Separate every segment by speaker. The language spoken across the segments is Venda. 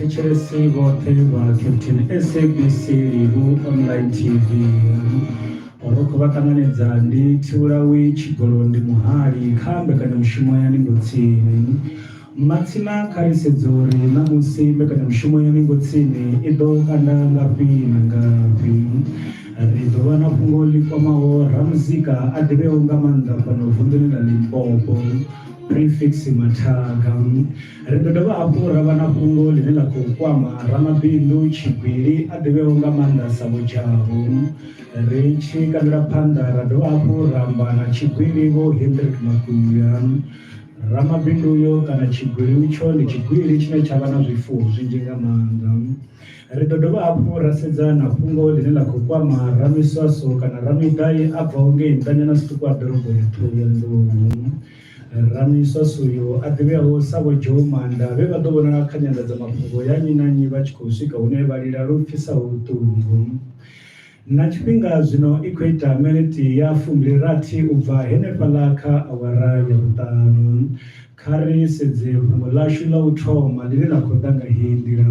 Speaker 1: vhathetshelesi vhoṱhe vha captain sabc livu online tv ro khou vha ṱanganedza ndi thivhulawi tshigolo ndi muhali kha mbekanyamushumo ya ningo tsini Matsina kha ri sedze uri ṋamusi mbekanyamushumo ya Ningo Tsini i ḓo kanda ngafhi na ngafhi. Ri ḓo vha na fhungo ḽi kwamaho ramuzika a ḓivheaho nga maanḓa fhano vunḓuni ḽa Limpopo, Prefix Mathaga. Ri ḓo dovha hafhu ra vha na fhungo ḽine ḽa khou kwama ramabindu tshigwili a ḓivheaho nga maanḓa sa Vho Jabu. Ri tshi kandela phanḓa ra dovha hafhu ra amba na tshigwili Vho Hendrick Makuya. Ramabindu uyo kana tshigwili utsho ndi tshigwili tshine tsha vha na zwifuwo zwinzhi nga maanḓa. Ri ḓo dovha hafhu ra sedza na fhungo ḽine ḽa khou kwama ramiswaso kana ramiṱai a bvaho ngei nṱanyana zwiṱuku ha ḓorobo ya Ṱhohoyanḓou. Ramiswaso uyo a ḓivheaho sa Vho Joe Manda vhe vha ḓo vhonala kha nyanḓadzamafhungo ya nnyi na nnyi vha tshi khou swika hune vha lila lu pfisaho vhuṱungu. Na tshifhinga zwino i khou ita miniti ya fumbilirathi u bva henefhaḽa kha awara ya vhuṱanu. Kha ri sedze fhungo ḽashu ḽa u thoma ḽine ḽa khou ḓa nga heyi nḓila.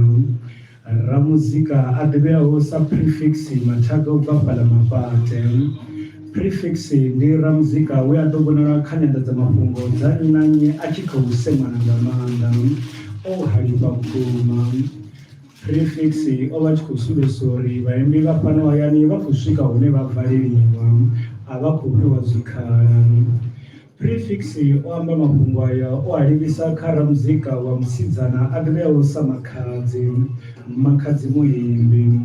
Speaker 1: Ramuzika a ḓivheaho sa Prefix Mathaga u bva fhaḽa Mafhate. Prefix ndi ramuzika we a ḓo vhonala kha nyanḓadzamafhungo dza nnyi na nnyi a tshi khou semana nga maanḓa, o halifha vhukuma. Prefix o vha tshi khou sumbedzisa uri vhaimbi vha fhano hayani vha khou swika hune vha valeliwa a vha khou fhiwa zwikhala prefix o amba mafhungo aya o a livhisa kha ramuzika wa musidzana a ḓivheaho sa makhadzi makhadzi muimbi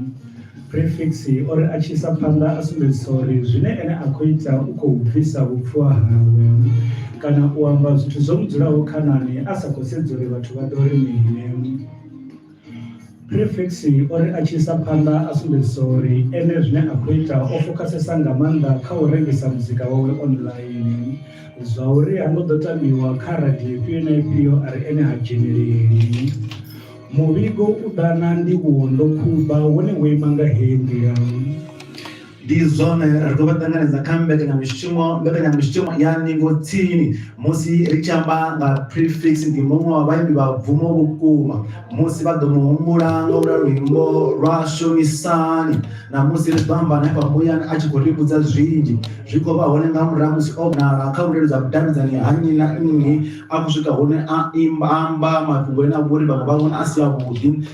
Speaker 1: prefix o ri a tshi isa phanḓa a sumbedzisa uri zwine ene a khou ita u khou bvisa vhupfuwa hawe kana u amba zwithu zwo mu dzulaho khanani a sa khou sedza uri vhathu vha ḓo ri mini Prefix o ri a tshi isa phanḓa a sumbedzisa uri ene zwine a khou ita o fokhasesa nga maanḓa kha u rengisa muzika wawe online zwa uri ha ngo ḓo tambiwa kha radio ifhio na ifhio a ri ene ha dzheneleli. Muvhigo u ḓa na ndivhuwo ndo khumba wone wo ima nga heyi nḓila. Ndi
Speaker 2: zwone, ri khou vha ṱanganedza kha mbekanyamushumo mbekanyamushumo ya ndingo tsini musi ri tshi amba nga Prefix ndi muṅwe wa vhaimbi vha bvumo vhukuma musi vha ḓo mu humbula nga ula luimbo lwa Shonisani na musi ri ḓo amba hanefha muyani a tshi khou ri vhudza zwinzhi zwi khou vha hone nga murahu musi o vhonala kha vhuleludza vhudavhidzani ha nnyi na nnyi a khou swika hune a imba amba mafhungo ane a vha uri vhaṅwe vha vhona a si a vhuḓi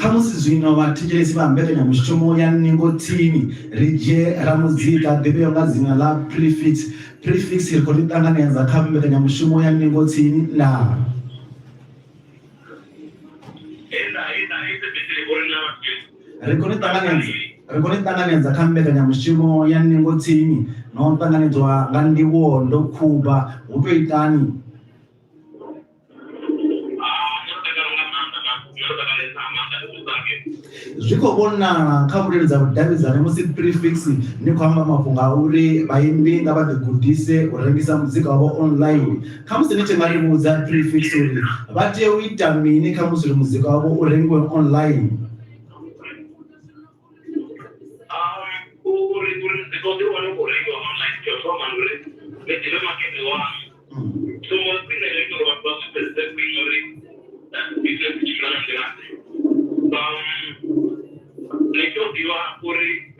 Speaker 2: khamusi zwino vhathetshelesi vha mbekanyamushumo ya ningo tsini ri dzhie ra muzika ḓivheo nga dzina ḽa prefix prefix ri khou ri ṱanganedza kha mbekanyamushumo ya ningo tsini na ri khou ni ṱanganedza ri khou ni ṱanganedza kha mbekanyamushumo ya ningo tsini na u ṱanganedzwa nga ndivhuwo ndo khuba hu to itani zwi khou vhonala kha vhuleludza vhudavhidzani musi prefix ni khou amba mafhungo a uri vhaimbi nga vha ḓigudise u rengisa muzika wavho online Kha musi ni tshi nga ri vhudza prefix uri vha tea u ita mini kha musi uri muzika wavho u rengiwe online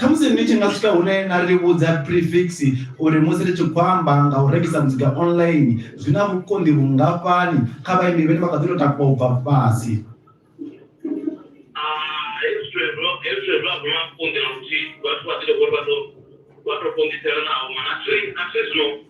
Speaker 2: khamusi ni tshi nga swika hune na ri vhudza prefix uri musi ri tshi khou amba nga u rengisa muzika online zwi na vhukonḓi vhungafhani kha vhaimbi vhene vha kha ḓi to takuwa u bva fhasi vhathu vha ḓi to vhori vha to vha to konḓisela naho mana a thi a thi zwino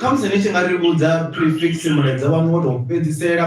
Speaker 2: khamusi ni tshi nga ri vhudza prefix mulaedza wanu wo tou fhedzisela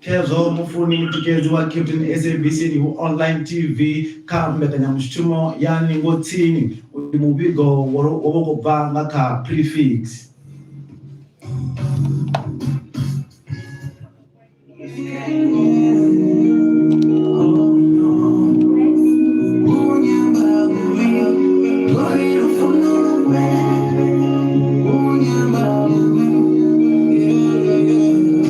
Speaker 2: khezwo mufuni mutikedzi wa captain sabc nihu online tv kha mbekanyamushumo ya ningo tsini uyu muvhigo wo vha u khou bva nga kha prefix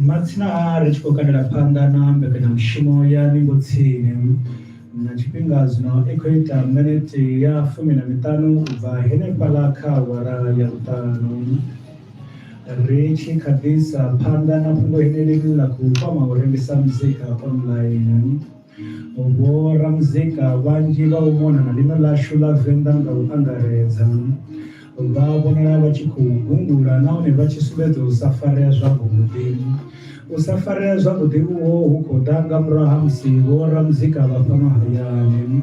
Speaker 2: Matsina a ri tshi khou kandela phanḓa na mbekanyamushumo ya ningo tsini na tshifhinga zwino i khou ita minete ya fumi na miṱanu u bva henefhaḽa kha awara ya vhuṱanu ri tshi kha ḓisa phanḓa na fhungo henelini ḽa khou kwama u rengisa muzika online Vho Ramuzika vhanzhi vha u mona na ḽino ḽashu ḽa Venḓa nga u angaredza vha vhonala vha tshi khou gungula nahone vha tshi sumbedza u sa farea zwavhuḓi. U sa farea zwavhuḓi uho hu khou ḓa nga murahu ha musi vho Ramuzika vha fhano hayani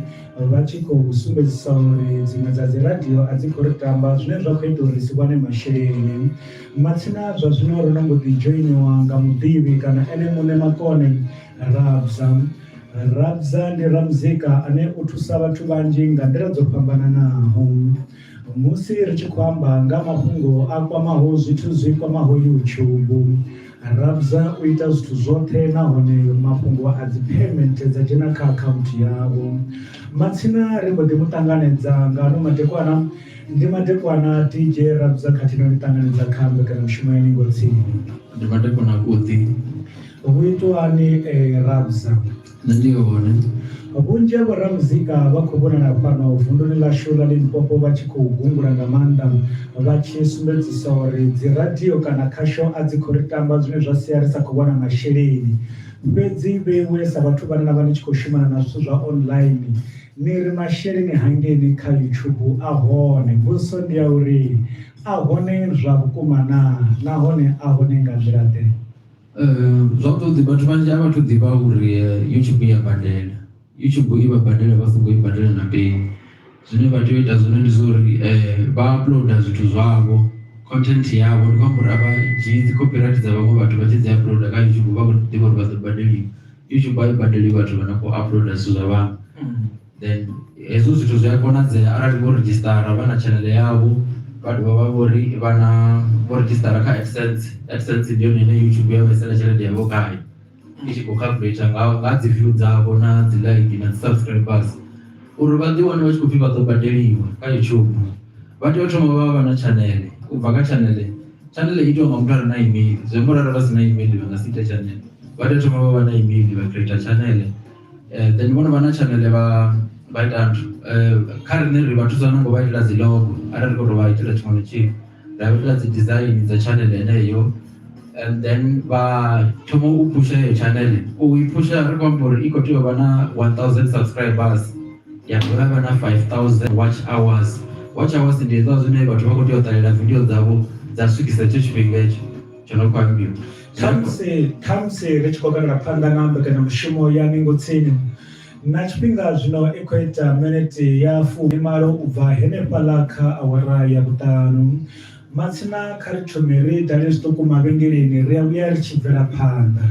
Speaker 2: vha tshi khou sumbedzisa uri dziṅwe dza dzi radio a dzi khou ri tamba zwine zwa khou ita uri si wane masheleni. Matsina zwa zwino ro no mbo ḓi dzhoiniwa nga muḓivhi kana ene muṋe makone Rabza Rabza ndi ramuzika ane u thusa vhathu vhanzhi nga nḓila dzo fhambananaho musi ri tshi khou amba nga mafhungo a kwamaho zwithu zwi kwamaho YouTube Rabza u ita zwithu zwoṱhe nahone mafhungo a dzi payment dza dzhena kha akhaunthu yavho matsina ri mbo ḓi mu ṱanganedza nga ano madekwana ndi madekwana DJ Rabza khathihi na u ṱanganedza kha mbekanyamushumo ya ningo tsini ndi madekwana
Speaker 3: a kuḓi Hu
Speaker 1: itwani e Rabsa? Nṋe ndi
Speaker 3: hone. Vhunzhi ha
Speaker 1: vhoramuzika vha khou vhonala fhano vunduni ḽashu ḽa Limpopo vha tshi khou gungula nga maanḓa vha tshi sumbedzisa uri dziradio kana khasho a dzi khou ri tamba zwine zwa sia ri sa khou wana masheleni. Fhedzi vheiwe sa vhathu vhane na vha ni tshi khou shumana na zwithu zwa online ni ri masheleni hangeni kha YouTube a hone. Mbudziso ndi ya uri a hone zwa vhukuma naa nahone a hone nga nḓila ḓe? Uh, zwavhuḓi
Speaker 3: vhathu vhanzhi a vhathu ḓivha uri eh, youtube ya badela youtube i vha badela vha songo i badela na peni zwine vha tea u ita zwone ndi zwa uri eh, vha uploada zwithu zwavho content yavho ndi khou amba uri a dzhii dzi copyright dza vhaṅwe vhathu vha tshi dzi uploada kha youtube vha khou ḓivha uri vha ḓo badeliwa youtube a i badeli vhathu vha na khou uploada zwithu zwa vhaṅwe then hezwo zwithu zwi a konadzea arali vho redzhisitara vha na tshanele yavho vha dovha vha vhori vha na vho redzhisitara kha absence absence ndi yone ine youtube ya vhaisela tshelede yavho khayo i tshi khou calculator nga nga dzi view dzavho na dzi like na dzi subscribers uri vha ḓi wane vha tshi khou pfhi vha ḓo badeliwa kha youtube vha tea u thoma vha vha na tshanele u bva kha tshanele tshanele itiwa nga muthu a re na email zwi amba uri arali vha si na email vha nga si ite tshanele vha tea u thoma vha vha na email vha creator tshanele then vhono vha na tshanele vha vha ita nthu kha riṋe ri vha thusa no ngo vha itela dzi logo arali ri khou tou vha itela tshiṅwe na tshiṅwe ra vha itela dzi design dza tshanele heneyo and then vha thoma u phusha heyo tshanele u i phusha ri khou amba uri i khou tea u vha na 1000 subscribers ya dovha vha na 5000 watch hours watch hours ndi hezwa zwine vhathu vha khou tea u ṱalela video dzavho dza swikisa hetsho tshifhinga hetsho tsho no khou ambiwa khamusi
Speaker 1: khamusi ri tshi khou bvela phanḓa na mbekanyamushumo ya ningo tsini na tshifhinga zwino i khou ita minete ya fumi malo u bva henefhaḽa kha awara ya vhuṱanu matsina kha ri thome ri dale zwiṱuku mavhengeleni ri a vhuya ri tshi bvela phanḓa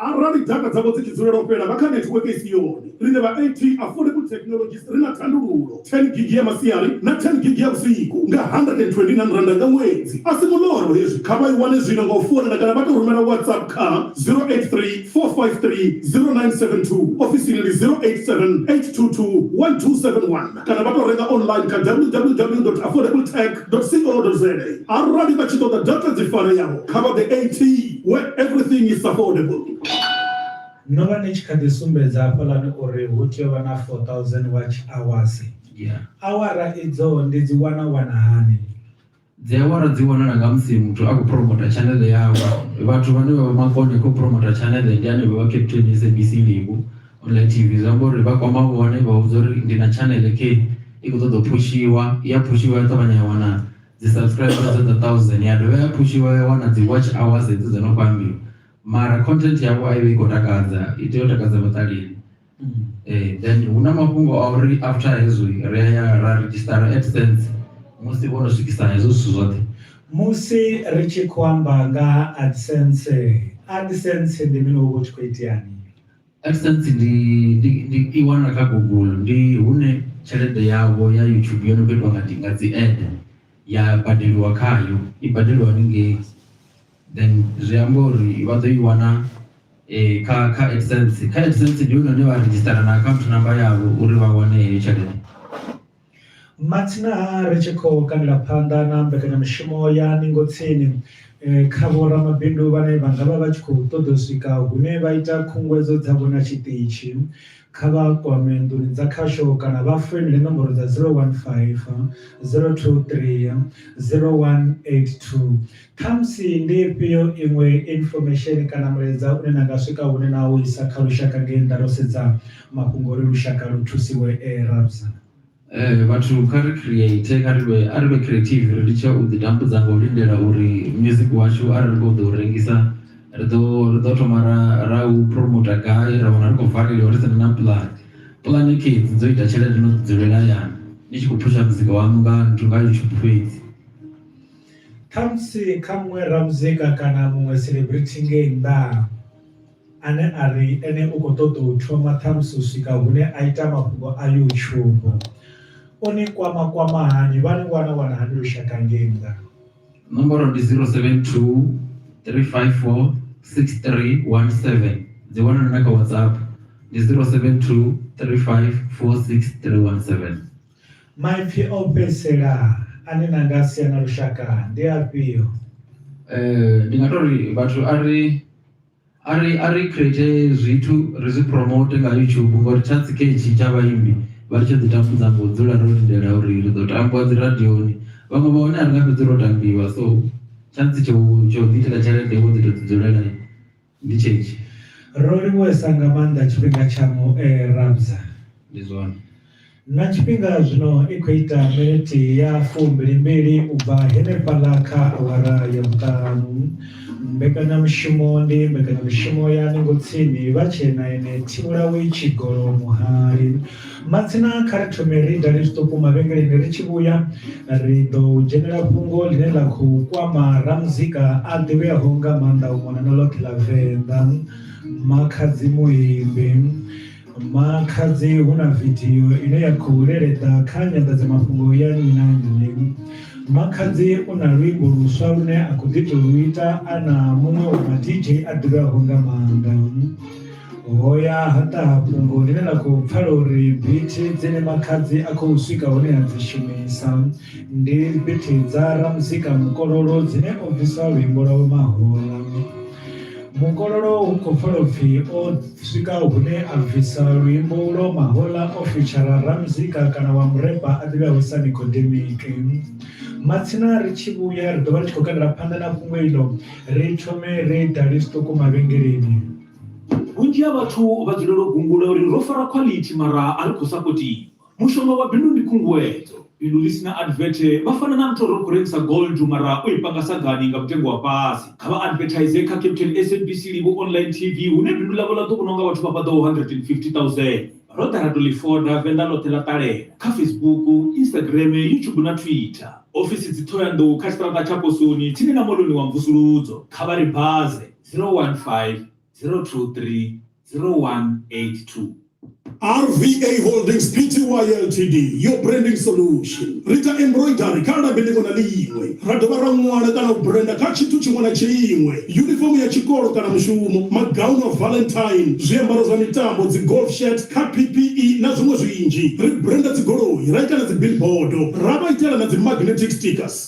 Speaker 4: arali dzaka dzavho dzi tshi dzulela u fhela vha kha netiweke i si yone Riṋe vha AT Affordable Technologies ri na thandululo, 10 gigi ya masiari na 10 gigi ya vhusiku nga R129 nga ṅwedzi. A si muḽoro hezwi, kha vha i wane zwino nga u founela kana vha tou rumela WhatsApp kha 083 453 0972. Ofisini ndi 087 822 1271 kana vha tou renga online kha www.affordabletech.co.za. Arali vha tshi ṱoḓa data dzi fareaho, kha vha ḓe AT where everything is affordable.
Speaker 1: No vha ni tshi kha ḓi sumbedza hafhaḽani uri hu tea u vha na 4,000 watch-awasi. Awara idzo ndi dzi wana wana hani? Dzi
Speaker 3: awara dzi wanala nga musi muthu a khou phuromota tshaneḽe yawe. Vhathu vhane vha vha makone khou phuromota tshaneḽe ndi hanevho vha Cape Town SABC Ndivhu online TV. Zwi amba uri vha kwama vhone vha vhudza uri ndi na tshaneḽe khe i khou ṱoḓa u phushiwa, i ya phushiwa ya ṱavhanya ya wana dzi subscribe dza dza 1,000 ya dovha ya phushiwa ya wana dzi watch-awasi hedzo dzo no khou ambiwa. mara content yavho a ivha i khou takadza i tea u takadza vhaṱaleli mm. eh, then hu na mafhungo a uri after hezwo ri a ya ra registara adsense musi vho no swikisa hezwo zwithu zwoṱhe musi
Speaker 1: ri tshi khou amba nga adsense adsense ndi mini uvha u tshi khou iteani adsense
Speaker 3: ndi ndi ndi i wana kha google ndi hune tshelede yavho ya youtube yo no khou itiwa nga dzi ad ya badeliwa khayo i badeliwa ningei then zwi amba uri vha ḓo i wana eh, kha kha AdSense kha AdSense ndi hone hune vha redzhisitara na account number yavho uri vha wane heyo tshelede matsina
Speaker 1: ri tshi khou kandela phanḓa na mbekanyamushumo ya ningo tsini eh, kha vhoramabindu vhane vha nga vha vha tshi khou ṱoḓa u swika hune vha ita khunguwedzo dzavho na tshiṱitshi kha vha kwame nḓuni dza khasho kana vha foinele nomboro dza 015 023 0182 Khamusi ndi ifhio iṅwe infomesheni kana mulaedza une na nga swika hune na u isa kha lushaka ngei nnḓa ro sedza mafhungo uri lushaka lu thusiwe? E Rabsa. Eh, vhathu
Speaker 3: kha ri create kha ri vhe a ri vhe creative ri litshe u ḓi tambudza nga u lindela uri music washu arali ri khou ḓo u rengisa ri ḓo ri ḓo thoma ra ra u promoter gai ra wana ri khou valeliwa ri sina na plan plan kids dzo ita tshelede no dzulela hayani ni tshi khou phusha muzika waṋu nga nthu nga youtube fhedzi Khamusi
Speaker 1: kha muṅwe ramuzika kana muṅwe celebrity ngei nnḓa ane a ri ene u khou ṱoḓa u thoma ṱhamusi u swika hune a ita mafhungo a youtube o ni kwama kwama hani vha ni wana wana hani lushaka ngei nnḓa nomboro ndi
Speaker 3: 072 354 6317 dzi wana na kha whatsapp ndi 072 354 6317 Maipfi
Speaker 1: o fhedzisela ane na nga sia na lushaka ndi afhio? Eh,
Speaker 3: ndi nga to ri vhathu a ri a ri a ri create zwithu ri zwi promote nga YouTube ngori tsha tsiketshi tsha vhaimbi vha ri tsho ḓi tambudza ngo dzula ro lindela uri ri ḓo tambiwa dzi radioni vhaṅwe vha hone a ri nga fhedzi ro tambiwa so tsha ntsi tsho tsho ḓi itela tshelede wo ḓi to ḓi dzulela Ndi tshenetshi.
Speaker 1: Ro livhuwesa nga
Speaker 3: maanḓa
Speaker 1: tshifhinga tsha mu e Rabza. Ndi zwone. Na tshifhinga zwino i khou ita miniti ya fumbili-mbili u bva henefhaḽa kha awara ya vhuṱanu. Mbekanyamushumo ndi mbekanyamushumo ya ningo tsini vha tshee na ene Thivhulawi Tshigolo muhali. Matsina kha ri thome ri dale zwiṱuku mavhengeleni ri tshi vhuya ri ḓo dzhenela fhungo ḽine ḽa khou kwama ramuzika a ḓivheaho nga maanḓa u mona na ḽoṱhe ḽa venḓa makhadzi muimbi makhadzi hu na vidio ine ya khou leleḓa kha nyanḓadzamafhungo ya nnyi na nnyi makhadzi u na luimbo luswa lune a khou ḓi tou lu ita a na muṅwe wa ma dj a ḓivheaho nga maanḓa hoya ha ṱaha fhungo ḽine ḽa khou pfala uri bithi dzine makhadzi a khou swika hune a dzi shumisa ndi bithi dza ramuzika mukololo dzine o bvisa luimbo lwa vhomahola mukololo hu khou pfala upfhi o swika hune a bvisa luimbo lwo mahola o fitshara ramuzika kana wa mureba a ḓivheaho sa nikodemike matsina ri tshi vhuya ri ḓo vha ri tshi khou kandela phanḓa na fhungo iḽo ri thome ri dali zwiṱuku mavhengeleni Vhunzhi
Speaker 5: ha vhathu vha dzulela u gungula uri ro fara khwalithi mara a ri khou sapotiwa. Mushonga wa bindu ndi khunguwedzo. Bindu ḽi si na advert vha fana na muthu a ri ri khou rengisa gold mara o i panga sagani nga mutengo wa fhasi. Kha vha advertise kha Captain, SABC Live Online TV hune bindu ḽavho ḽa ḓo vhonwa nga vhathu vha paḓaho 150,000. Ro ḓa ra tou ḽi foda, Venḓa ḽoṱhe ḽa ṱalela, kha Facebook, Instagram, YouTube na Twitter. Ofisi dzi Ṱhohoyanḓou kha tshiṱaraṱa tsha Posoni tsini na Moḽoni wa Mvusuludzo. Kha vha ri baze. 015 023 0182.
Speaker 4: RVA Holdings Pty Ltd yo branding solution ri ita embroidery kha labi ḽiṅwe na ḽiṅwe ra dovha ra ṅwala kana u brenda kha tshithu tshiṅwe na tshiṅwe yunifomo ya tshikolo kana mushumo magaunu a valentine zwiambaro zwa mitambo dzi golf shirt kha ppe na zwiṅwe zwinzhi ri brenda dzigoloi ra ita na dzibillboardo ra vha itela na dzi magnetic stickers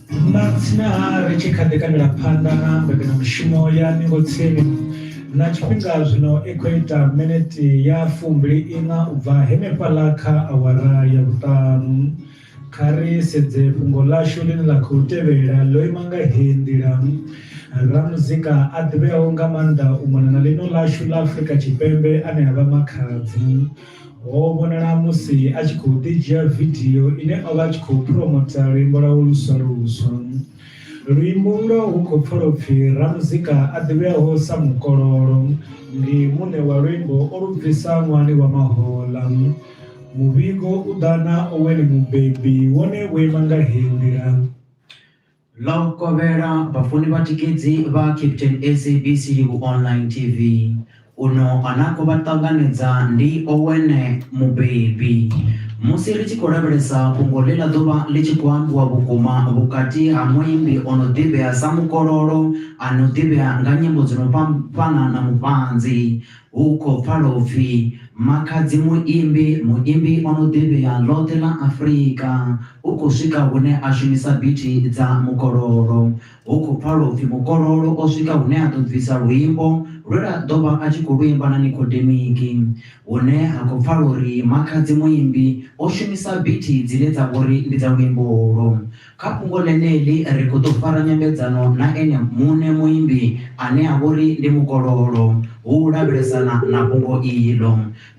Speaker 1: Matsina-ha ri tshi kha ḓi kandela phanḓa na mbekanyamushumo ya Ningo Tsini, na tshifhinga zwino i khou ita minete ya fumbili iṋa u bva henefhaḽa kha awara ya vhuṱanu. Kha ri sedze fhungo ḽashu ḽine ḽa khou tevhela, ḽo ima nga heyi nḓila. Ramuzika a ḓivheaho nga maanḓa u mona na ḽino ḽashu ḽa Afrika Tshipembe ane a vha Makhadzi, Ho vhonala musi a tshi khou ḓidzhia vidio ine o vha a tshi khou phuromotha luimbo lwawe luswa luswa. Luimbo ulwo hu khou pfala u pfi ramuzika a ḓivheaho sa Mukololo ndi muṋe wa luimbo o lu bvisa ṅwahani wa mahoḽa. Muvhigo u ḓa na Owen Mubebi, wone wo ima nga heyi nḓila. Ḽo
Speaker 6: kovhela vhafuni vha tikedzi vha Captain SABC Livhu Online TV. Uno a na khou vha ṱanganedza ndi Owen Mubebi. Musi ri tshi khou lavhelesa fhungo ḽe ḽa ḓo vha ḽi tshi khou ambiwa vhukuma vhukati ha muimbi o no ḓivhea sa Mukololo a no ḓivhea nga nyimbo dzi no fhambana na Mufhanzi, Hu khou pfala u pfi Makhadzi Muimbi, muimbi o no ḓivhea ḽoṱhe ḽa Afrika, u khou swika hune a shumisa bithi dza mukololo. Hu khou pfala u pfi mukololo o swika hune a ḓo bvisa luimbo lwe lwa ḓo vha a tshi khou lu imba na Nikhodemiki, hune ha khou pfala uri Makhadzi Muimbi o shumisa bithi dzine dza vho ri ndi dza luimbo ulwo. Kha fhungo ḽeneḽi ri khou ḓo fara nyambedzano na ene muṋe muimbi ane a vha uri ndi mukololo hu u lavhelesana na fhungo iḽo.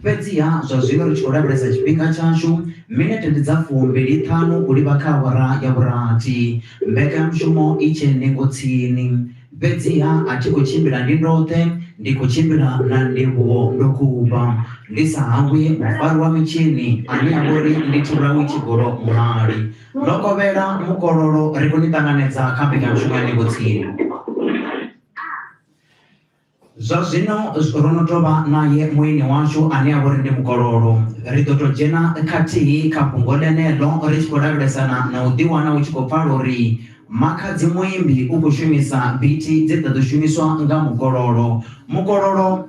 Speaker 6: Fhedziha zwa zwino ri tshi khou lavhelesa tshifhinga tshashu, minete ndi dza fumbili ṱhanu u livha kha awara ya vhurathi. Mbekanyamushumo i tshe ningo tsini, fhedziha a thi khou tshimbila ndi ndoṱhe, ndi khou tshimbila na Ndivhuwo ndo khuvha, ndi sa hangwi mufari wa mitshini ane a vha uri ndi Thurawi Tshigolo Muhali. Ḽo kovhela mukololo ri khou ni ṱanganedza kha mbekanyamushumo ya Ndingo Tsini. Zwa zwino ro no tou vha naye mueni washu ane a vha uri ndi mukololo. Ri ḓo tou dzhena khathihi kha fhungo ḽeneḽo ri tshi khou lavhelesana na u ḓiwana u tshi khou pfala uri makhadzi muimbi u khou shumisa bithi dze dza ḓo shumiswa nga mukololo. Mukololo.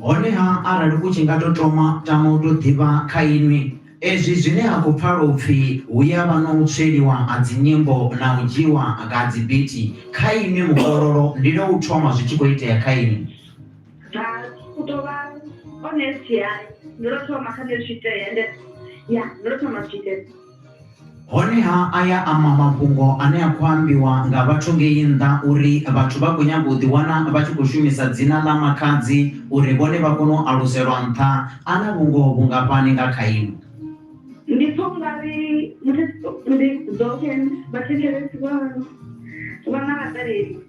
Speaker 7: Honeha
Speaker 6: arali u tshi nga tou toma tama u tou ḓivha kha inwi, ezwi zwine ha khou pfala u pfi hu ya vha na u tsweliwa ha dzinyimbo na u dzhiiwa ha dzibiti, kha inwi mukololo ndi lwa u thoma zwi tshi khou itea kha inwi. Bva, u tou vha honest, ya, ndi lwa u thoma kha
Speaker 7: nṋe zwi tshi itea, ya, ndi lwa u thoma zwi tshi itea. Honeha
Speaker 6: aya a ma mafhungo ane a khou ambiwa nga vhathu ngei nnḓa uri vhathu vha khou nyaga u ḓiwana vha tshi khou shumisa dzina ḽa Makhadzi uri vhone vha kone u aluselwa nṱha a na vhungoho vhungafhani nga kha inwi? Ndi pfa u nga ri ndi dzoṱhe
Speaker 7: vhathetshelesi vha vha na vhaṱaleli.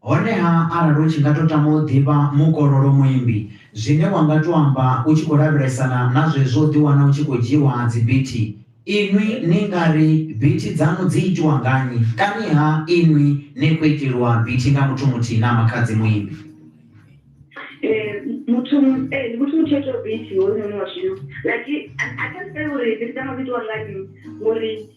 Speaker 7: Honeha,
Speaker 6: arali u tshi nga tou tama u ḓivha mukololo muimbi, zwine wa nga tou amba u tshi khou lavhelesana na zwezwo u ḓiwana u tshi khou dzhiiwa dzibithi, Inwi ni nga ri bithi dzaṋu dzi itiwa nga nnyi? Kaniha inwi ni khou iteliwa bithi nga muthu muthihi na makhadzi muimbi? Ee, muthu ee, ndi
Speaker 7: muthu muthihi o itaho bithi hoyunoni wa zwino. Like, I can't say uri bithi dzanga dzi itiwa nga nnyi ngori.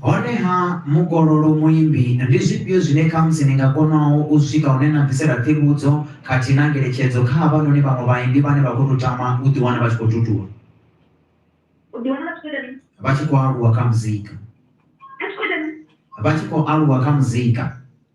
Speaker 7: Honeha,
Speaker 6: mukololo muimbi, ndi zwifhio zwine khamusi ni nga konaho u swika hune na bvisela ṱhivhudzo khathihi na ngeletshedzo kha havhanoni vhaṅwe vhaimbi vhane vha khou tou tama u ḓiwana vha tshi khou tutuwa, U ḓiwana vha tshi khou ita mini? vha tshi khou aluwa kha muzika, Vha tshi khou ita mini? vha tshi khou aluwa kha muzika?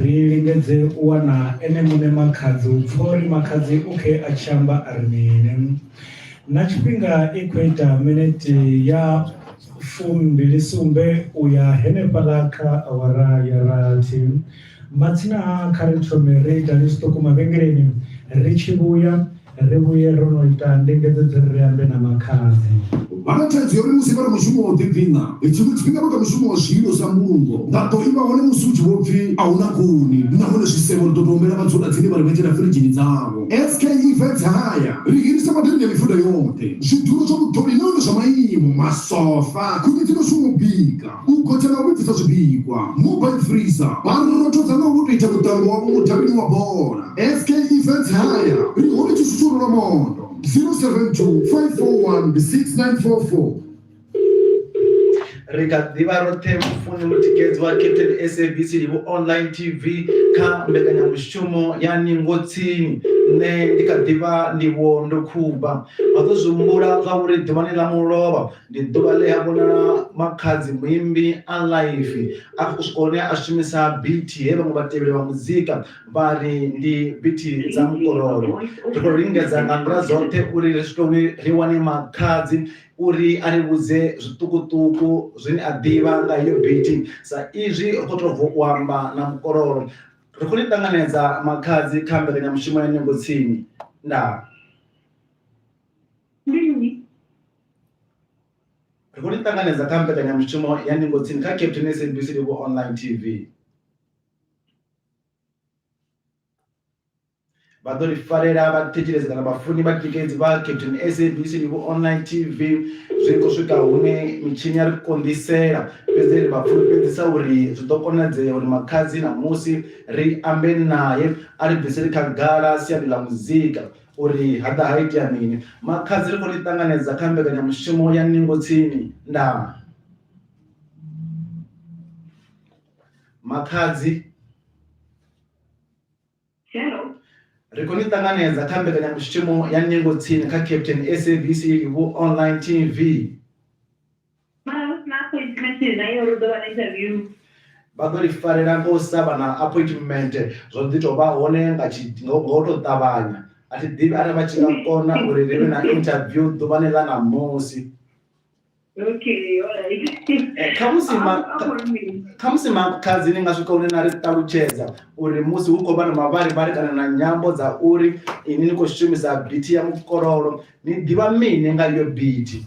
Speaker 1: Ri lingedze u wana ene muṋe Makhadzi u pfa uri Makhadzi u khe a tshi amba a ri mini. Na tshifhinga i khou ita minete ya fumbili sumbe u ya henefhaḽa kha awara ya rathi. Matsina ha kha ri thome ri ita ni zwiṱuku mavhengeleni ri tshi vhuya. Ri vhuye ro no ita ndingedzo dza uri ri ambe na makhadzi. Vha na thaidzo ya
Speaker 4: uri musi vha re mushumo wa u ḓidina, tshiṅwe tshifhinga vha kha mushumo wa zwililo zwa mbulungo vha ḓo ima hone musi hu tshi vho pfi a hu na khuni nahone zwisevho ri ḓo tou humbela vhadzulatsini vha ri vhetshela firidzhini dzavho. SK Events Haya ri hirisa maḓini a mifuda yoṱhe, zwidulo zwa vhuṱoli nahone zwa maimo, masofa, khuni dzi no shuma u bika. u gotsha na u vhudzisa zwipikwa mobile freezer vha rothodza na u to ita vhuṱambo wavho mudavhini wa bola sk events haya ri hone tshi susulo lwa mondo 072 541 6944
Speaker 2: ri kha ḓivha roṱhe mufuni mutikedzi wa captain sabc livhu online tv kha mbekanyamushumo ya ningo tsini nṋe ndi kha ḓivha ndivho ndo khuba vha ḓo zwi humbula zwa uri ḓuvhani ḽa mulovha Ndi ḓuvha ḽe ha vhonala makhadzi muimbi a ḽaifi a khou swika hune a shumisa bithi he vhaṅwe vhatevheli vha muzika vha ri ndi bithi dza mukororo. Ri khou lingedza nga nḓila dzoṱhe uri ri swike hune ri wane makhadzi uri a ri vhudze zwiṱukuṱuku zwine a ḓivha nga heyo bithi sa izwi ri khou tou bva u amba na mukororo. Ri khou ni ṱanganedza makhadzi kha mbekanyamushumo ya Nyongo Tsini. Ndaa. ri khou ni ṱanganedza kha mbekanyamushumo ya ndingo tsini kha captain sabc livho online tv vha ḓo ri farela vhathetshelesi kana vhafuni vha tikedzi vha captain sabc livho online tv zwi khou swika hune mitshini ya ri konḓisela fhedzi ri vha fulufhedzisa uri zwi ḓo konadzea uri makhadzi na musi ri ambe naye a ri bviseli khagala siani ḽa muzika Uri ha ḓa ha itea mini? Makhadzi ri khou ni ṱanganedza kha mbekanyamushumo ya Ningo Tsini, Ndama. Makhadzi. Hello.
Speaker 7: Ri khou ni
Speaker 2: ṱanganedza kha mbekanyamushumo ya Ningo Tsini kha Captain SABC Livu Online TV. mara hu si na appointment nayo uri u ḓo vha na interview vha ḓo ri farela ngo sa vha na appointment zwo ḓi tou vha hone nga ngo tou ṱavhanya a thi ḓivhi arali vha tshi nga kona uri ri vhe na interview ḓuvhani ḽa ṋamusi
Speaker 7: eh,
Speaker 2: khamusi makhadzi ni nga swika hune na ri ṱalutshedza uri musi hu khou vha na mavharivhari kana na nyambo dza uri ini ni khou shumisa bithi ya mukololo ni ḓivha mini nga iyo bithi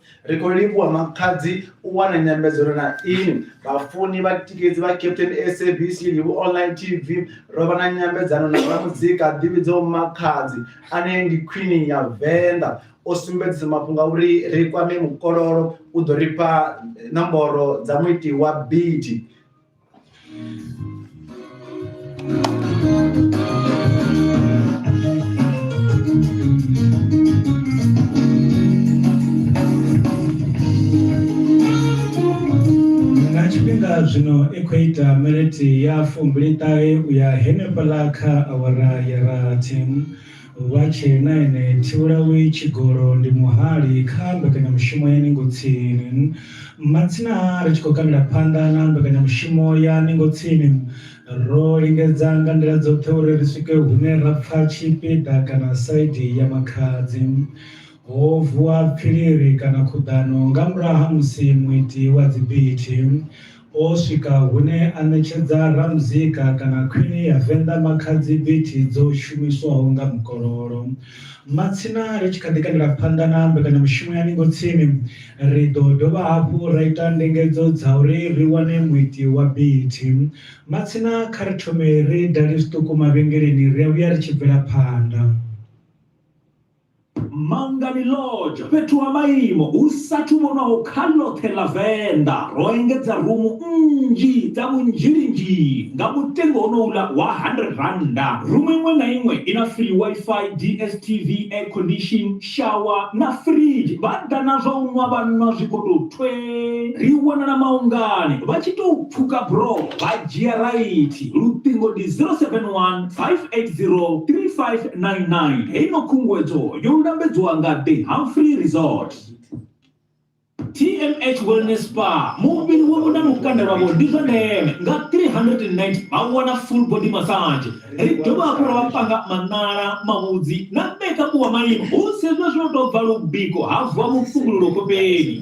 Speaker 7: Ri khou livhuwa
Speaker 2: Makhadzi u wana nyambedzano na inwi. Vhafuni, vhatikedzi vha Captain SABC Livhu Online TV, ro vha na nyambedzano na ramuzika a ḓivhidzaho Makhadzi ane ndi khwini ya Venḓa. O sumbedzisa mafhungo a uri ri kwame mukololo, u ḓo ri fha nomboro dza muiti wa bidi.
Speaker 1: nga tshifhinga zwino i khou ita miniti ya fumbili ṱahe u ya henefhaḽa kha awara ya rathi Vha tshee na ene. Thivhulawi Tshigolo ndi muhali kha mbekanyamushumo ya Ningo Tsini. Matsina a ri tshi khou kandela phanḓa na mbekanyamushumo ya Ningo Tsini, ro lingedza nga nḓila dzoṱhe uri ri swike hune ra pfa tshipiḓa kana saidi ya Makhadzi. Ho vuwa pfiliri kana khuḓano nga murahu ha musi muiti wa dzibiti, O swika hune a ṋetshedza ramuzika kana khwini ya Venḓa Makhadzi bithi dzo shumiswaho nga mukololo. Matsina ri tshi kha ḓi kandela phanḓa na mbekanyamushumo ya Ningo Tsini, ri ḓo dovha hafhu ra ita ndingedzo dza uri ri wane muiti wa bithi. Matsina kha ri thome ri dale zwiṱuku mavhengeleni ri a vhuya ri tshi bvela phanḓa.
Speaker 5: Mangani Lodge, fhethu ha maimo hu sathu vhonwaho kha ḽoṱhe ḽa Venḓa, ro engedza rumu nnzhi dza vhunzhilinzhi nga mutengo honouḽa wa R100. Rumu iṅwe na iṅwe i na free Wi-Fi, DSTV, air condition, shower na fridge. Vha ḓa na zwa u nwa vha nwa zwi khou tou thwee. Ri wanala Maungani, vha tshi tou pfuka buroho vha dzhia raithi. Luṱingo ndi 071 803599 heyi no khunguwedzo yo lambedzwa nga the humphrey resort tmh wellness spa muvhili wavho na lukanda lwavho ndi zwa ndeme nga 390 vha wana full body massage ri dovha hafhu ra vha panga maṋala mavhudzi na mekapu wa maimo hu sedzwa zwino tou bva lubiko ha vuwa mupfungululo kopeni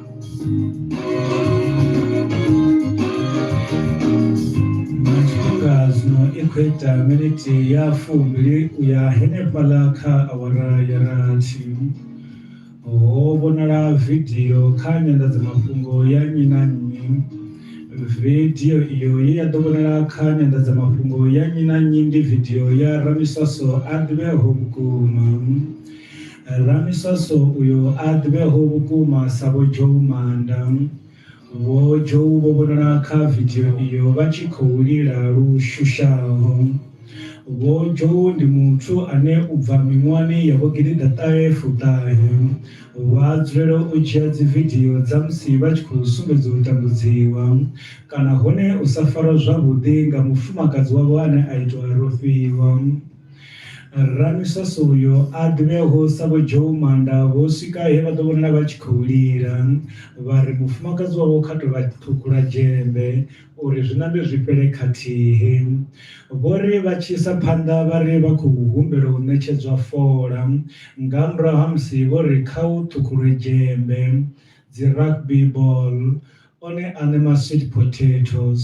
Speaker 1: Ngazno ikhweta miniti ya fumbili u ya henefhaḽa kha awara ya rathi ho vhonala vidio kha nyanḓadzamafhungo ya nnyi na nnyi vidio iyo ye ya ḓo vhonala kha nyanḓadzamafhungo ya nnyi na nnyi ndi vidio ya ramiswaso a ḓivheaho vhukuma Ramiswaso uyo a ḓivheaho vhukuma sa Vho Joe Maanda. Vho Joe vho vhonala kha vidio iyo vha tshi khou lila lu shushaho. Vho Joe ndi muthu ane u bva miṅwahani ya vho gidiḓa ṱahe fuṱahe, vha dzulela u dzhia dzividio dza musi vha tshi khou sumbedza u tambudziwa kana hone u sa farwa zwavhuḓi nga mufumakadzi wavho ane a itwa a rofhiwa. Ramisase uyo a dovhe a hosa Vho Joe Manda vho swika he vha ḓo vhonala vha tshi khou lila vha ri mufumakadzi wavho kha tou vha ṱhukhula dzhembe uri zwi nambe zwi fhele khathihi. Vho ri vha tshi isa phanḓa vha ri vha khou humbela u ṋetshedzwa fola nga murahu ha musi vho ri kha hu ṱhukhulwe dzhembe, dzi rugby ball, one aṋe ma sweet potatoes.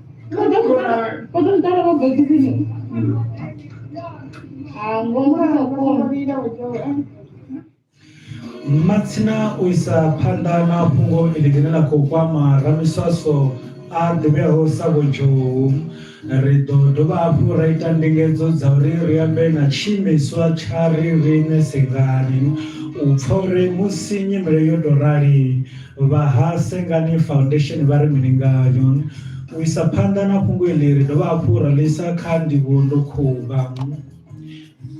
Speaker 1: Matsina u isa phanḓa na fhungo iḽi ḽine ḽa khou kwama ramiswaswo a ḓivheaho sa Vho Zhou, ri ḓo dovha hafhu ra ita ndingedzo dza uri ri ambe na tshiimiswa tsha Riṋe Sengani u pfa uri musi nyimele yo tou rali Vha ha Sengani Foundation vha ri mini ngayo? U isa phanḓa na fhungo iḽi ri dovha hafhu ra ḽi isa kha ndivhuwo ndo khuvha.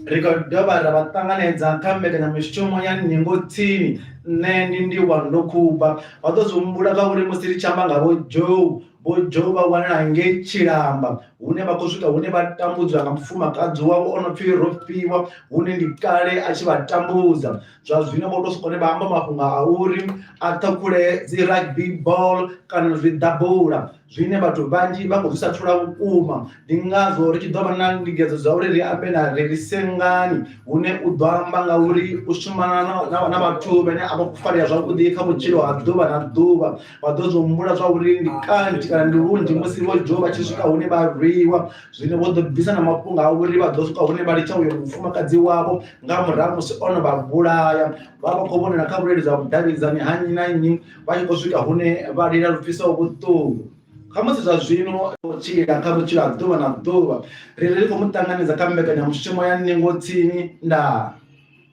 Speaker 2: Ri khou dovha ra vha ṱanganedza kha mbekanyamushumo ya Ningo Tsini, Nṋe Ndi Ndivhuwo Ndo Khuvha. Vha ḓo zwi humbula nga uri musi ri tshi amba nga Vho Joe, Vho Joe vha wanala ngei Tshilamba hune vha khou swika hune vha tambudzwa nga mufumakadzi wavho o no pfi Rofhiwa hune ndi kale a tshi vha tambudza. zwa zwino vho to soko ne vha amba mafhungo a uri a ṱhakhule dzi rugby ball kana zwi ḓabula zwine vhathu vhanzhi vha khou zwi sathula vhukuma ndi ngazwo ri tshi ḓo vha na ndingedzo dza uri ri ambe na ri ri sengani hune u ḓo amba nga uri u shumana na vhathu vhane a vha khou farea zwavhuḓi kha vhutshilo ha ḓuvha na ḓuvha vha ḓo zwi humbula zwa uri ndi kanzhi kana ndi lunzhi musi vho dzhiwa vha tshi swika hune vha rwiwa zwino vho ḓo bvisa na mafhungo a uri vha ḓo swika hune vha litsha uyo mufumakadzi wavho nga murahu musi ono vha vhulaya vha vha khou vhonela kha vhuleludzi ha vhudavhidzani ha nnyi na nnyi vha tshi khou swika hune vha lila lu pfisaho vhuṱungu khamusi zwa zwino tshila kha vhutshilo ha ḓuvha na ḓuvha ri ri khou mu ṱanganedza kha mbekanyamushumo ya ningo tsini ndaa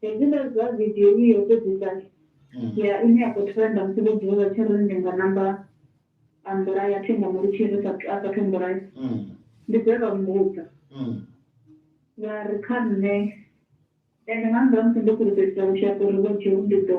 Speaker 7: Hezwiḽa zwa video i yo fhedzisa ya ine ya khou trenda musi vho dzula vha tshi ri ndi nga namba a mbulaya thi nga mu litshi ri sathu a sathu mbulaya ndi dze vha mmbudza vha ri kha nṋe ende nga murahu ha musi ndo fhulufhedzisa lushaka uri vho dzheu ndi ḓo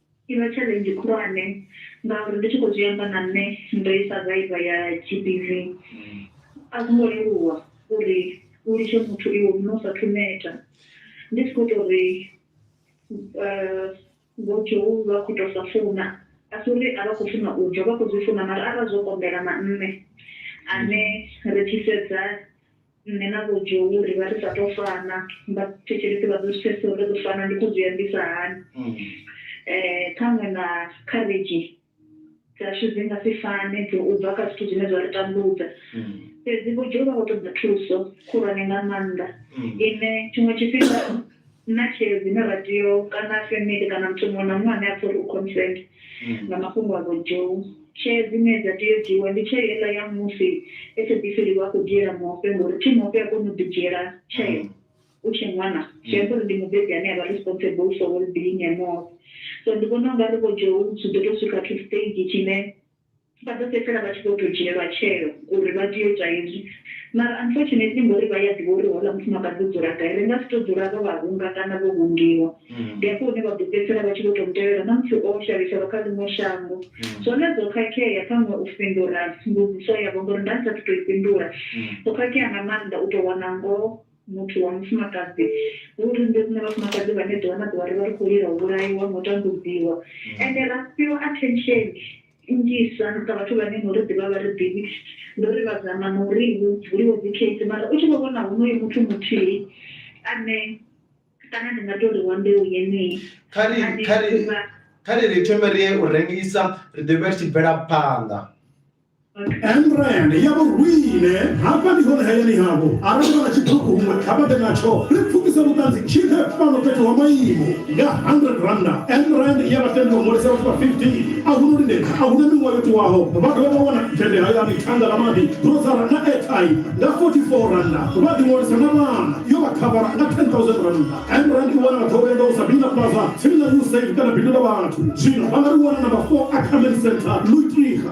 Speaker 7: I vha tshaḽenzhi khulwane ngauri ndi tshi khou zwi amba na nṋe ndo isa vaiva ya GBV. A zwo ngo leluwa uri u litshe muthu iwe muṋe u sathu neta. Ndi si khou ita uri Vho Zhou vha khou tou sa funa, a si uri a vha khou funa u bva, vha khou zwi funa mara arali zwo konḓela na nṋe ane ri tshi sedza. Nṋe na Vho Joe ri vha ri sa tou fana, vhathetshelesi vha ḓo zwi pfesesa uri ri ḓo fana ndi khou zwi ambisa hani. Ṱhaṅwe na khavhedzhi dzashu dzi nga si fane dzo u bva kha zwithu zwine zwa ri tambudza. Fhedzi Vho Joe vha khou ṱoḓa thuso khulwane nga maanḓa ine tshiṅwe tshifhinga. na tsheo dzine ra tea u kana family kana muthu muṅwe na muṅwe ane a pfha uri u concerned nga mafhungo a vho Joe. Tsheo dzine dza tea u dzhiiwa ndi tsheo heiḽa ya musi SABC Live a khou dzhiela Mofe ngori thi Mofe a koni u ḓi dzhiela tsheo u tshe ṅwana zwi amba uri ndi mubebi ane avha responsible for well being ya Mofe so ndi vhona ungari vho Joe zwi ḓo to swika to stage tshine Vha ḓo fhedzisela vha tshi vho tou dzhielwa tsheo uri vha tea u ita hezwi. Mara unfortunately ngori vha ya ḓivha uri houḽa mufumakadzi u dzula gai, ri nga si tou dzula ro vha hunga kana vho hungiwa. Ndi hafho hune vha ḓo fhedzisela vha tshi vho tou mu tevhela na musi o shavhiselwa kha ḽiṅwe shango. Zwone zwo khakhea ṱhaṅwe u fhindula mbudziso yavho ngori nda ndi sa athu tou i fhindula. Zwo khakhea nga maanḓa u tou wana ngoho. muthu wa mufumakadzi hu uri nṋe riṋe vhafumakadzi vhane ḓuvha na ḓuvha ri vha ri khou lila u vhulaiwa na u tambudziwa mm. ende ra fhiwa attention nnzhisa nga vhathu vhane no ri ḓivha vha ri ḓivhi ndi uri vha zama na uri hu vuliwe dzi case mara u tshi vho vhona honoyo muthu muthihi ane kana ndi nga tou ri wa mbeu yeneyi
Speaker 2: kha ri ri thome ri ye u rengisa ri ḓo vha ri tshi bvela phanḓa
Speaker 4: England ya vhorwine hafha ndi hone hayani havho arali vha na tshibuku huṅwe kha vha ḓe natsho ri pfukise vhuṱanzi tshine fhano fhethu ha maimo nga 100 randa England ya vha tendela u ṅwalisa vhathu vha 15 a hu no lindedza a hu na miṅwaha yo tiwaho vha dovha vha wana tshende hayani thanga ḽa maḓi grosara na airtime nga 44 randa vha ḓi ṅwalisa na vhana yo vha khavara nga 10000 randa England i wana vhathu vha vhuya nga u Sabina Plaza tsini na Usaid kana bindu ḽa vhathu zwino vha nga ri wana namba 4 Ackerman Centre Luitliga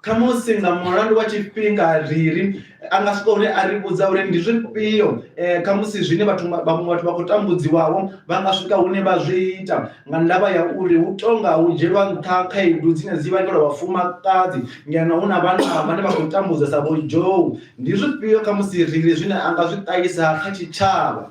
Speaker 4: Khamusi
Speaker 2: nga mulandu wa tshifhinga ri ri a nga swika hune a ri vhudza uri ndi zwifhio eh, khamusi zwine vhathu vha- vhaṅwe vhathu vha khou tambudziwaho vha nga swika hune vha zwi ita nga ndavha ya uri hu tonga hu dzhielwa nṱha khaedu dzine dzi vhangelwa vhafumakadzi ngeno hu na vhanna vhane vha khou tambudza sa vho Joe. Ndi zwifhio khamusi ri ri zwine a nga zwi ṱahisa kha tshitshavha?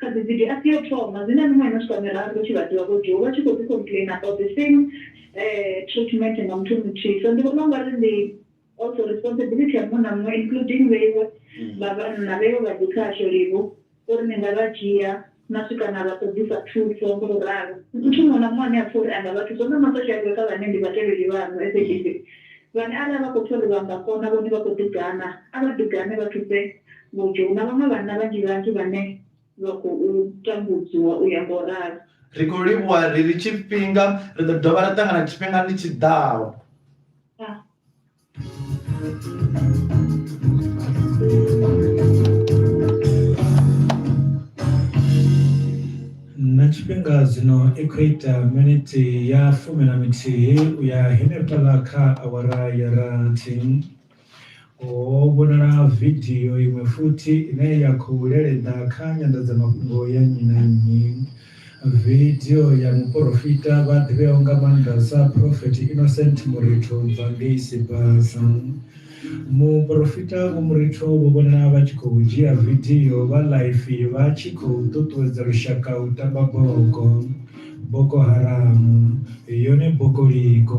Speaker 7: Kha dzi video a si ya u thoma, zwi na miṅwaha i no swika miraru hu tshi vhadziwa vho dzhiiwa vha tshi khou ḓi complainer about the same treatment nga muthu muthihi. So ndi vhona ungari ndi also responsibility ya muṅwe na muṅwe including vheiwe vha vhanna, vheiwe vha dzi khasho livho uri ni nga vha dzhia na swika na vha ṱoḓisa thuso ngo u ralo. Muthu muṅwe na muṅwe ane a pfha uri a nga vha thusa, hu na ma social worker vhane ndi vhatevheli vhaṋu SABC vhane arali vha khou pfha uri vha nga kona vhone vha khou ḓi gana, a vha ḓi gane vha thuse Mutsho, Hu na vhaṅwe vhanna vhanzhi-vhanzhi vhane vha khou tambudziwa u ya nga u
Speaker 2: ralo. Ri khou livhuwa ri ri tshifhinga ri ḓo dovha ra ṱangana tshifhingani tshi ḓaho.
Speaker 1: Na tshifhinga zwino i khou ita miniti ya fumi na mithihi u ya henefhaḽa kha awara ya rathi. Ho vhonala vidio iṅwe futhi ine ya khou lelenda kha nyanḓadzamafhungo ya nnyi na nnyi. Vidio ya muporofita vha ḓivheaho nga maanḓa sa Prophet Innocent Muritho u bva ngei Sibasa. Muporofita Vho Muritho vho vhonala vha tshi khou dzhia vidio vha ḽaifi vha tshi khou ṱuṱuwedza lushaka u tamba bogo, Boko Haram, yone bokoliko.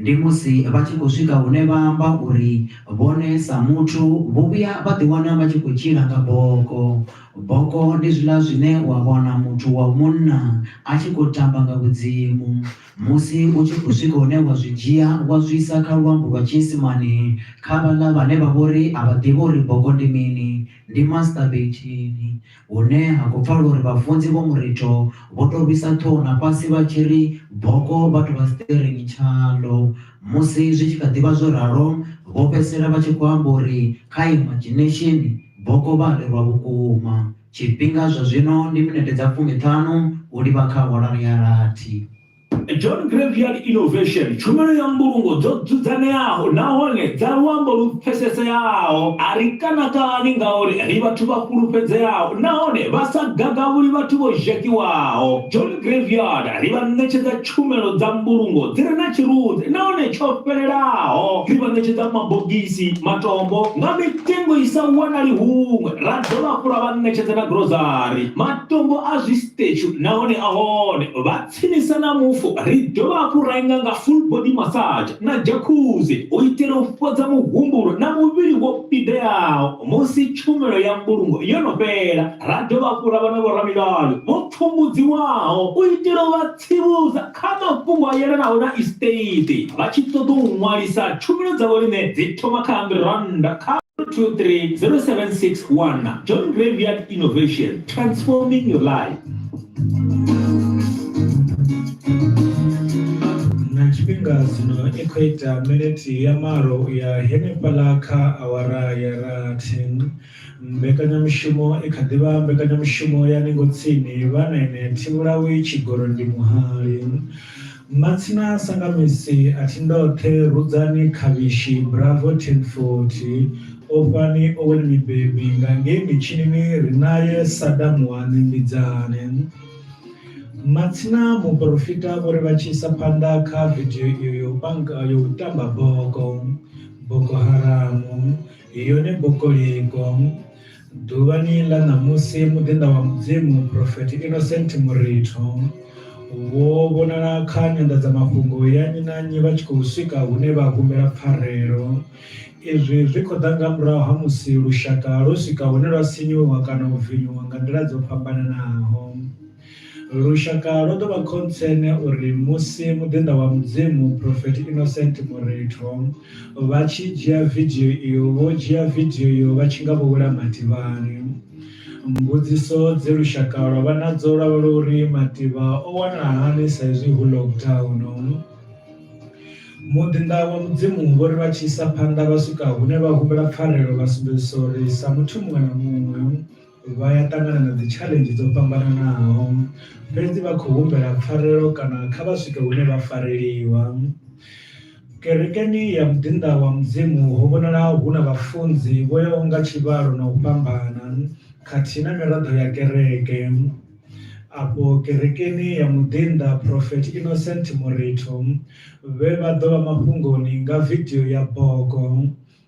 Speaker 6: Ndi musi vha tshi khou swika hune vha amba uri vhone sa muthu vho vhuya vha ḓiwana vha tshi khou tshila nga boko. Boko ndi zwiḽa zwine wa wana muthu wa munna a tshi khou tamba nga vhudzimu. Musi u tshi khou swika hune wa zwi dzhia wa zwi isa kha luambo lwa tshiisimane kha vhaḽa vhane vha vha uri a vha ḓivhi uri boko ndi mini, ndi masturbate. hune ha khou pfala uri vhafunzi vho Muritho vho tou rwisa ṱhoho na fhasi vha tshi ri boko vhathu vha siṱirini tshaḽo. Musi zwi tshi kha ḓi vha zwo ralo, vho fhedzisela vha tshi khou amba uri kha imaginesheni, boko vha a ḽi rwa vhukuma. Tshifhinga zwa zwino ndi minete dza fumi-ṱhanu u livha kha awara ya rathi. John
Speaker 5: Graveyard Innovation, tshumelo ya mbulungo dzo dzudzanyeaho nahone dza luambo lu pfeseseaho. A ri kanakani ngauri ri vhathu vha fhulufhedzeaho nahone vha sa gagavhuli vhathu vho zhakiwaho. John Graveyard ri vha ṋetshedza tshumelo dza mbulungo dzi re na tshirunzi nahone tsho fhelelaho. Ri vha ṋetshedza mabogisi, matombo, nga mitengo i sa wanali huṅwe. Ra dovha hafhu ra vha ṋetshedza na gurozari. Matombo a zwisitetshu nahone a hone. Vha. Tsinisa na mufu, ri dovha hafhu ra inga nga full body massage na jacuzzi u itela u fhodza muhumbulo na muvhili wo fhideaho musi tshumelo ya mbulungo yo no fhela. Ra dovha hafhu ra vha na vhoramilayo vho pfumbudziwaho u itela u vha tsivhudza kha mafhungo a yelanaho na estate. Vha tshi ṱoḓa u ṅwalisa, tshumelo dza vhoriṋe dzi thoma kha R100 kha. 23076 Wana John Graveyard Innovation, Transforming Your Life.
Speaker 1: na tshifhinga zwino i khou ita miniti ya malo ya henefhaḽa kha awara ya rathi mbekanyamushumo i kha ḓivha mbekanyamushumo ya ningo tsini vha nene thivhulawi tshigoro ndi muhali Matsina Sangamisi a thi ndoṱhe Rudzani Khavhishi Bravo Tenfoti Ofhani Owen Mibebi nga ngei mitshinini ri nae Sada Muwani Mbidzani Matsina Muporofita vho ri vha tshi isa phanḓa kha vidio iyo ya u panga ya u tamba boko, Boko Haramu. Iyo ni buku ligo ḓuvhani ḽa ṋamusi muḓinḓa wa mudzimu profeti innocent muritho wo vhonala kha nyanḓadzamafhungo ya nnyi na nnyi vha tshi khou swika hune vha humbela pfarelo izwi zwi khou ḓa nga murahu ha musi lushaka lwo swika hune lwa sinyuwa kana u vinyuwa nga nḓila dzo fhambananaho Lushaka lwo ḓo vha khontsene uri musi muḓinḓa wa Mudzimu, Prophet Innocent Moretho, vha tshi dzhia vidio iyo, vho dzhia vidio iyo vha tshi nga vho wela mativhani. Mbudziso dze lushaka lwa vha nadzo lwa vha uri mativha o wanala hani sa izwi hu lockdown. Muḓinḓa wa Mudzimu vho ri vha tshi isa phanḓa vha swika hune vha humbela pfarelo vha sumbedzisa uri sa muthu muṅwe na muṅwe, Vha ya ṱangana na dzi challenge dzo fhambananaho fhedzi vha khou humbela pfarelo kana kha vha swike hune vha fareleliwa. Kerekeni ya muḓinḓa wa Mudzimu ho vhonala hu na vhafunzi vho yaho nga tshivhalo na u fhambana khathihi na miraḓo ya kereke. Afho kerekeni ya muḓinḓa Prophet Innocent Moretho vhe vha ḓo vha mafhungoni nga video ya boko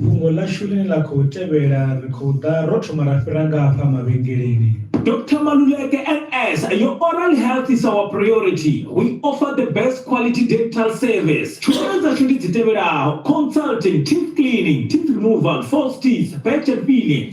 Speaker 1: Fhungo ḽashu ḽine ḽa khou tevhela ri khou ḓa ro thoma ra fhira nga hafha mavhengeleni. Doctor Maluleke,
Speaker 5: NS, Your oral health is our priority. We offer the best quality dental service. Tshumelo dzashu ndi dzi tevhelaho, consulting, teeth cleaning, teeth removal, false teeth, patch and filling.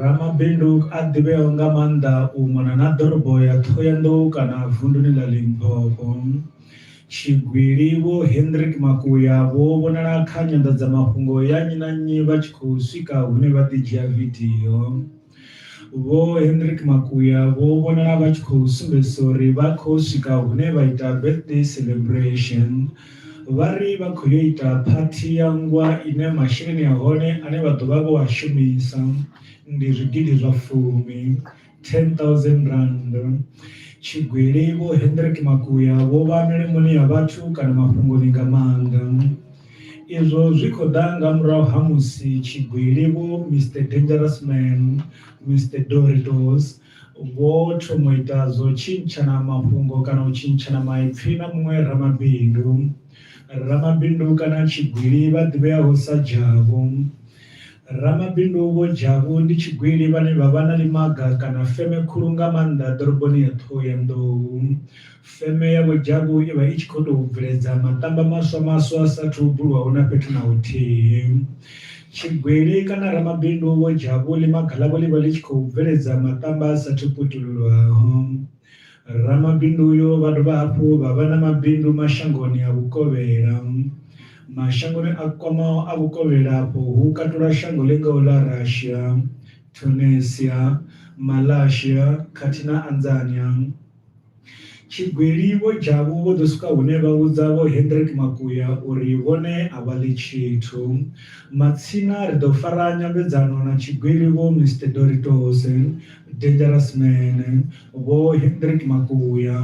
Speaker 1: Ramabindu a ḓivheaho nga maanḓa u mona na ḓorobo ya Thohoyandou kana vunduni ḽa Limpopo, Tshigwili Vho Hendrick Makuya vho vhonala kha nyanḓadzamafhungo ya nnyi na nnyi vha tshi khou swika hune vha ḓi dzhia vidio. Vho Hendrick Makuya vho vhonala vha tshi khou sumbedzisa uri vha khou swika hune vha ita birthday celebration Vha ri vha khou yo ita phathi ya nngwa ine masheleni a hone ane vha ḓo vha vho a shumisa ndi zwigidi zwa fumi, R10,000. Tshigwili Vho Hendrick Makuya vho vha milimoni ya vhathu kana mafhungoni nga maanḓa. Izwo zwi khou ḓa nga murahu ha musi tshigwili Vho Mister Dangerous Man, Mister Doritos Vho thoma u ita zwa u tshintshana mafhungo kana u tshintshana maipfi na muṅwe ramabindu. Ramabindu kana tshigwili vha ḓivheaho sa Dzhavhu. Ramabindu Vho Dzhavhu ndi tshigwili vhane vha vha na ḽimaga kana feme khulu nga maanḓa ḓoroboni ya Ṱhohoyanḓou. Feme ya Vho Jabu i vha i tshi khou tou bveledza maṱamba maswa maswa a sa athu bulwaho na fhethu na huthihi. Tshigwili kana ramabindu Vho Jabu ḽimaga ḽavho ḽi vha ḽi tshi khou bveledza maṱamba a sa athu putululwaho. Ramabindu uyo vha dovha hafhu vha vha na mabindu mashangoni a vhukovhela. Mashangoni a kwamaho a vhukovhela afho hu katula shango ḽi ngaho ḽa Russia, Tunisia, Malaysia khathihi na Anzania. Tshigwili Vho Jabu vho ḓo swika hune vha vhudza Vho Hendrik Makuya uri vhone a vha ḽi tshithu. Matsina ri ḓo fara nyambedzano na tshigwili Vho Mister Doritos, Dangerous Man, Vho Hendrik Makuya.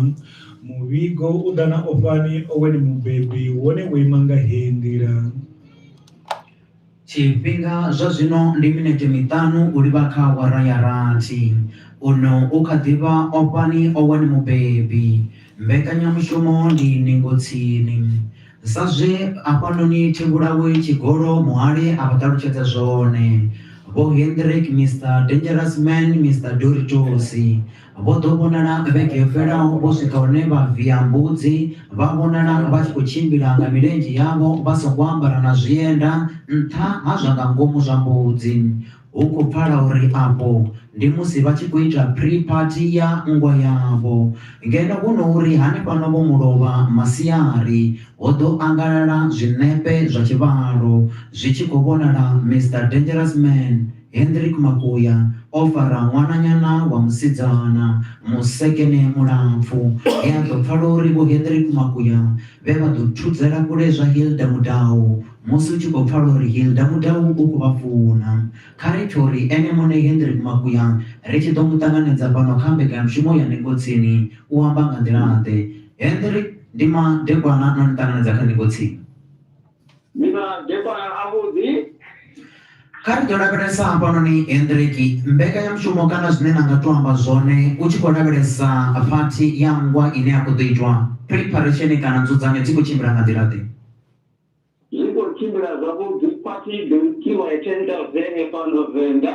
Speaker 1: Muvhigo u ḓa na Ofhani Owen Mubebi wone wo ima nga heyi nḓila.
Speaker 6: Tshifhinga zwa zwino ndi minete miṱanu u livha kha awara ya rathi. Uno u kha ḓi vha o fhani o wani mubebi. Mbekanyamushumo ndi ningo tsini. Sa zwe hafhanoni Thevhulawe Tshigolo muhali a vha ṱalutshedza zwone, Vho Hendrik Mister Dangerous Man Mister Doritosi, Vho ḓo vhonala vhege yo fhelaho vho swika hune vha via mbudzi, vha vhonala vha tshi khou tshimbila nga milenzhe yavho vha songo ambara na zwienda nṱha ha zwa nga ngomu zwa mbudzi. Hu khou pfala uri afho ndi musi vha tshi khou ita pre-party ya nngwa yavho. Ngeno hu no uri hanefhano vho mulovha masiari, ho ḓo angalala zwiṋepe zwa tshivhalo zwi tshi khou vhonala Mister Dangerous Man, Hendrick Makuya o fara ṅwananyana wa musidzana musekene mulapfu he a ḓo pfala uri Vho Hendrick Makuya vhe vha ḓo thudzela kule zwa Hilda Mudau musi u tshi khou pfala uri Hilda Mudau u khou vha funa. Kha ri pfe uri ene muṋe Hendrick Makuya ri tshi ḓo mu ṱanganedza fhano kha mbekanyamushumo ya Ningo Tsini u amba nga nḓila-ḓe. Hendrick, Ndi madekwana no ni ṱanganedza kha Ningo Tsini.
Speaker 8: Ndi madekwana
Speaker 6: avhuḓi. Kha ri ḓo lavhelesa hafhanoni Hendriki, mbekanyamushumo kana zwine na nga tou amba zwone u tshi khou lavhelesa phathi ya nngwa ine ya khou ḓo itwa. Phiripharesheni kana nzudzanyo dzi khou tshimbila nga nḓila-ḓe? Zwi khou tshimbila
Speaker 8: zwavhuḓi. Phathi i ḓo itiwa ya 10,000 ya fhano Venḓa.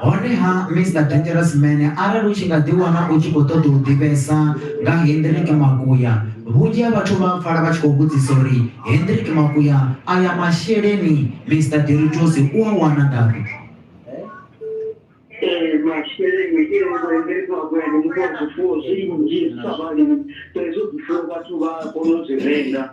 Speaker 8: honeha
Speaker 6: mr dangerous man arali u tshi nga ḓiwana u tshi khou ṱoḓa u ḓivhesa nga hendrik makuya vhunzhi ha vhathu vha pfala vha tshi khou vhudzisa uri hendrik makuya aya masheleni mr diritos u a wana ngafhi masheleni ke ngoendezwa kwenu muthu wa zwifuwo zwinzhi sa vhalimi saizwo zwifuwo vhathu vha
Speaker 8: kona u zwi renga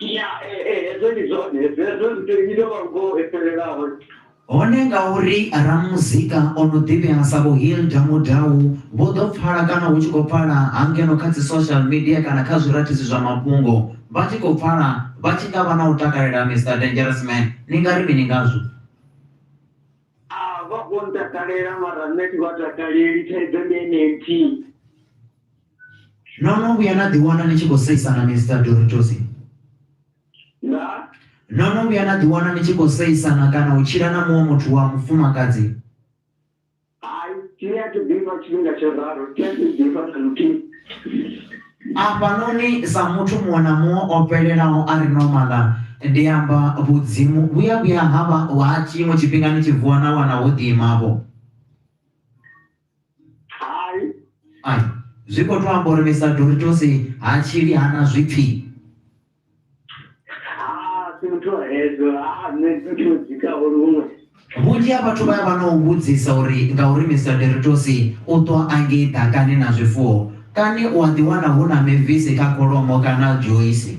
Speaker 6: Ya, eh, eh, hezwo ndi zwone hezwo hezwo ndi tou ita lwa ngoho e fhelelaho hone ngauri ramuzika o no ḓivhea sa vho hilda mudau vho ḓo pfala kana hu tshi khou pfala hangeno kha dzi social media kana kha zwirathizi zwa mafhungo vha tshi khou pfala vha tshi nga vha na u takalela mr dangerous man ni nga ri mini ngazwo a vha vho ntakalela mara nṋe thi vha takaleli thaidzo ndi ene
Speaker 8: nthihi
Speaker 6: no no vhuya na ḓiwana ni tshi khou seisana mr doritosi na no no vhuya na ḓiwana ni tshi khou seisana kana u tshila na muṅwe muthu wa mufumakadzi hai ni a thi ḓifha tshifhinga tsho ralo thi a thi ḓifha na luthihi afhanoni sa muthu muṅwe na muṅwe o fhelelaho a ri nomala ndi amba vhudzimu vhuya vhuya ha vha ha tshiṅwe tshifhinga ni tshi vuwa na wana ho ḓiimavho hai ai zwi khou to amba uri misa doritosi ha tshili hana zwipfi si muthu wa hedzo a nṋe muthu wo dzikaho luṅwe vhunzhi ha vhathu vha ya vha na u vhudzisa uri ngauri mr deritosi u ṱwa a ngei ḓakani na zwifuwo kani u a ḓiwana hu na mevisi kha kholomo kana joisi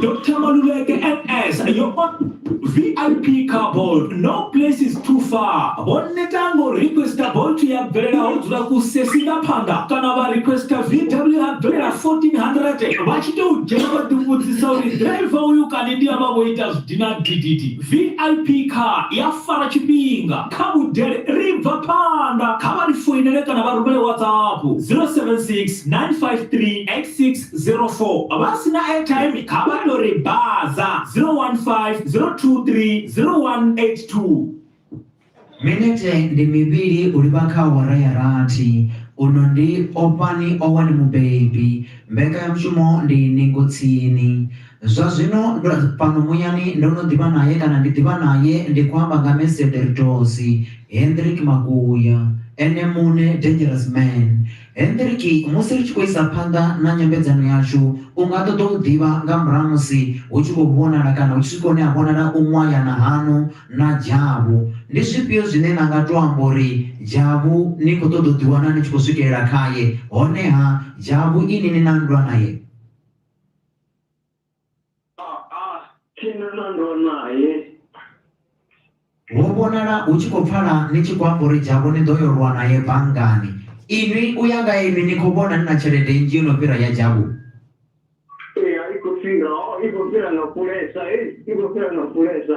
Speaker 5: Dr. Maluleke NS, yo ot VIP couple, no place is too far. Vho neta ngo requesta bolt ya bvelela ho dzula ku sesi nga phanḓa kana vha requesta VW ya bvelela 1400 vha tshi tou dzhena vha ḓivhudzisa uri driver uyu kani ndi avha vho ita zwidina gididi. VIP car ya fara tshifhinga kha vhudele ri bva phanḓa kha vha ri foinele kana vha rumele WhatsApp 076 953 86 04 vha si na
Speaker 6: airtime kha vha tou ri baza 015 023 0182. Minete ndi mivhili u livha kha awara ya rathi. Uno ndi Ofhani Owen Mubebi. Mbekanyamushumo ndi Ningo Tsini. Zwa zwino ndo fhano muyani ndo no ḓivha nae kana ndi ḓivha nae ndi khou amba nga Mesederitosi Hendrick Makuya, ene muṋe Dangerous Man. Hendriki, Musi ri tshi khou isa phanḓa na nyambedzano yashu, u nga ṱoḓa u ḓivha nga murahu ha musi hu tshi khou vhonala kana hu tshi swika hune ha vhonala u ṅwayana haṋu na dzhavhu. Ndi zwifhio zwine na nga tou amba uri dzhavhu ni khou ṱoḓa u ḓiwana ni tshi khou swikelela khae, honeha dzhavhu inwi ni na nndwa nae?
Speaker 8: Ho
Speaker 6: vhonala hu tshi khou pfala ni tshi khou amba uri dzhavho ni ḓo yo lwa nae banngani. Inwi u ya nga inwi ni khou vhona ni na tshelede nnzhi yo no fhira ya dzhavho? Ee, i khou fhira.
Speaker 8: Ho, i khou fhira nga kulesa. Hei, i khou fhira nga kulesa.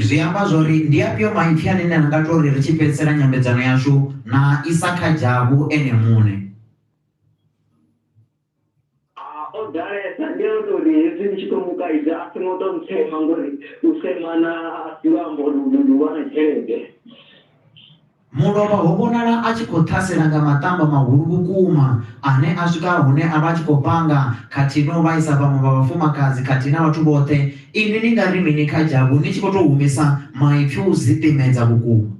Speaker 8: Zwi amba
Speaker 6: zwa uri ndi afhio maipfi ane na nga tou ri ri tshi fhedzisela nyambedzano yashu na isa kha dzhavho ene muṋe?
Speaker 8: o ḓalesa ndi a ita uri hezwi ndi tshi ḓo mu kaidza a songo tou ntsema ngori u semana a si luambo luhulwane tshelede
Speaker 6: mulovha ho vhonala a tshi khou ṱhasela nga maṱamba mahulu vhukuma ane a swika hune a vha a tshi khou panga khathihi na u vhaisa vhaṅwe vha vhafumakadzi khathihi na vhathu vhoṱhe inwi ni nga ri mini kha dzhavhu ni tshi khou tou humisa maipfi o zwiḓimedza vhukuma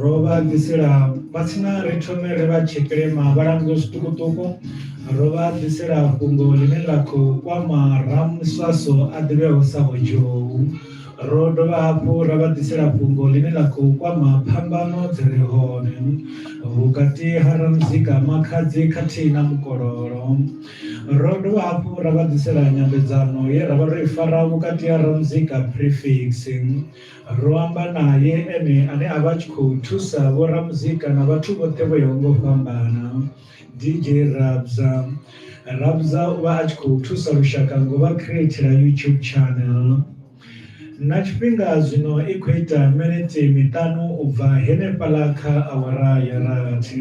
Speaker 1: ro vha ḓisela vha tsina ri thome ri vha tshekilema vha lango zwiṱukuṱuku ro vha ḓisela fhungo ḽine ḽa khou kwama ramswaso a ḓivheho sa vhojou ro dovha hafhu ra vha ḓisela fhungo ḽine ḽa khou kwama phambano dzi re hone vhukati ha ramuzika makhadzi khathihi na mukololo ro dovha hafhu ra vha ḓisela nyambedzano ye ra vha ro i fara vhukati ha ramuzika prefix Ro amba nae ene ane a vha a tshi khou thusa vhoramuzika na vhathu vhoṱhe vho yaho nga u fhambana, DJ Rabza. Rabza u vha a tshi khou thusa lushaka ngo vha createla YouTube channel. Na tshifhinga zwino i khou ita minete miṱanu u bva henefhaḽa kha awara ya rathi.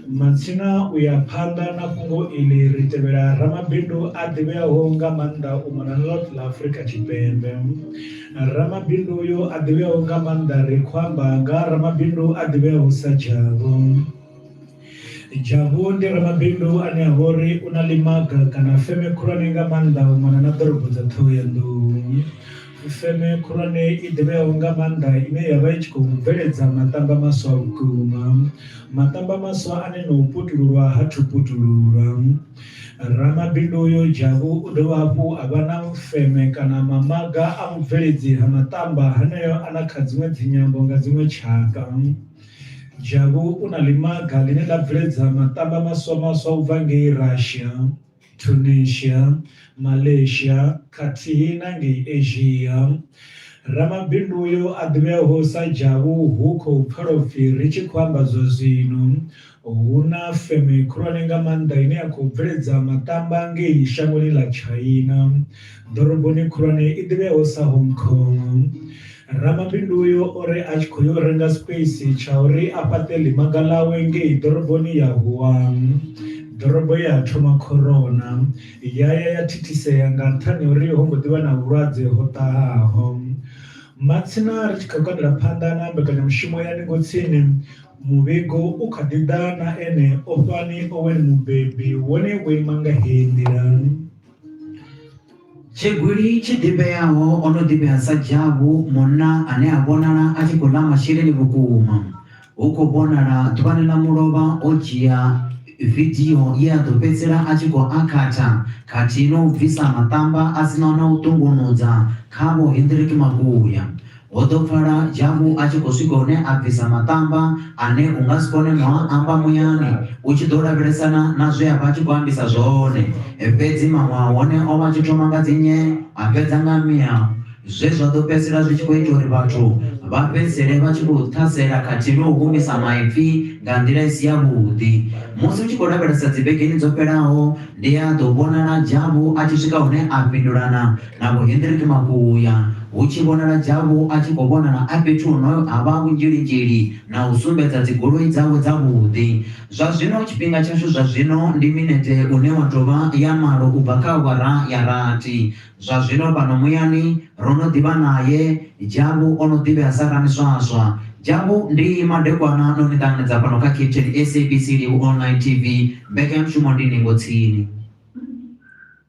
Speaker 1: Matsina u ya phanḓa na fhungo iḽi ri tevhela ramabindu a ḓivheaho nga maanḓa u mona na ḽoṱhe ḽa Afrika Tshipembe. Ramabindu uyo a ḓivheaho nga maanḓa ri khou amba nga ha ramabindu a ḓivheaho sa Dzhavhu. Dzhavhu ndi ramabindu ane a vha uri u na ḽimaga kana feme khulwane nga maanḓa u mona na ḓorobo dza Ṱhohoyanḓou. Feme khulwane i ḓivheaho nga maanḓa ine ya vha i tshi khou bveledza maṱamba maswa vhukuma. Maṱamba maswa ane na u putululwa ha thu putululwa. Ramabindu uyu Jabu u dovha hafhu a vha na feme kana mamaga a vhubveledzi ha maṱamba haneo a na kha dziṅwe dzinyambo nga dziṅwe tshaka. Jabu u na ḽimaga ḽine ḽa bveledza maṱamba maswa-maswa u bva ngei Russia, Tunisia, Malaysia khathihi na ngei Asia. Ramabindu uyu a ḓivheaho sa Jabu hu khou pfala u pfi ri tshi khou amba zwazwino Hu na feme khulwane nga maanḓa ine ya khou bveledza maṱamba ngei shangoni ḽa China, ḓoroboni khulwane i ḓivheaho sa Hong Kong. Ramabindu uyo o ri a tshi khou yo renga space tsha uri a fhaṱe ḽimaga ḽawe ngei ḓoroboni ya Wuhan, ḓorobo ye ha thoma corona ya ya ya thithisea nga nṱhani ha uri ho mbo ḓi vha na vhulwadze ho ṱahaho. Matsina ri tshi khou kandela phanḓa na mbekanyamushumo ya Ningo Tsini, Muvhigo u kha ḓi ḓa na ene Ofani Owen Mubebi, wone wo ima nga heyi nḓila.
Speaker 6: Tshigwili tshi ḓivheaho o no ḓivhea sa Dzhavu, munna ane a vhonala a tshi khou ḽa masheleni vhukuma. Hu khou vhonala ḓuvhani ḽa mulovha o dzhia vidio ye a ḓo fhedzisela a tshi khou akhatha khathihi na u bvisa maṱamba a si naho na u ṱungunudza khavho Hendrick Mavhuya. Ho ḓo pfala Jabu a tshi khou swika hune a bvisa maṱamba ane u nga si kone no a amba muyani u tshi ḓo lavhelesana na zwe a vha a tshi khou ambisa zwone. Fhedzi maṅwe a hone o vha a tshi thoma nga dzi nye a fhedza nga miau, zwe zwa ḓo fhedzisela zwi tshi khou ita uri vhathu vha fhedzisele vha tshi khou ṱhasela khathihi na u humisa maipfi nga nḓila i si yavhuḓi. Musi u tshi khou lavhelesa dzivhegeni dzo fhelaho, ndi a ḓo vhonala Jabu a tshi swika hune a fhindula na Na Vho Hendrik Makuya, hu tshi vhonala Jabu a tshi khou vhonana a fhethu hu no ha vha vhunzhili-nzhili na u sumbedza dzigoloi dzawe dzavhuḓi. Zwa zwino tshifhinga tshashu zwa zwino ndi minete une wa tou vha ya malo u bva kha awara ya rathi. Zwa zwino fhano muyani ro no ḓi vha nae, Jabu o no ḓivhea sa ramiswaswa. Jabu, ndi madekwana no ni ṱanganedza fhano kha Cape Town, SABC Livhu Online TV. Mbekanyamushumo ndi ningo tsini.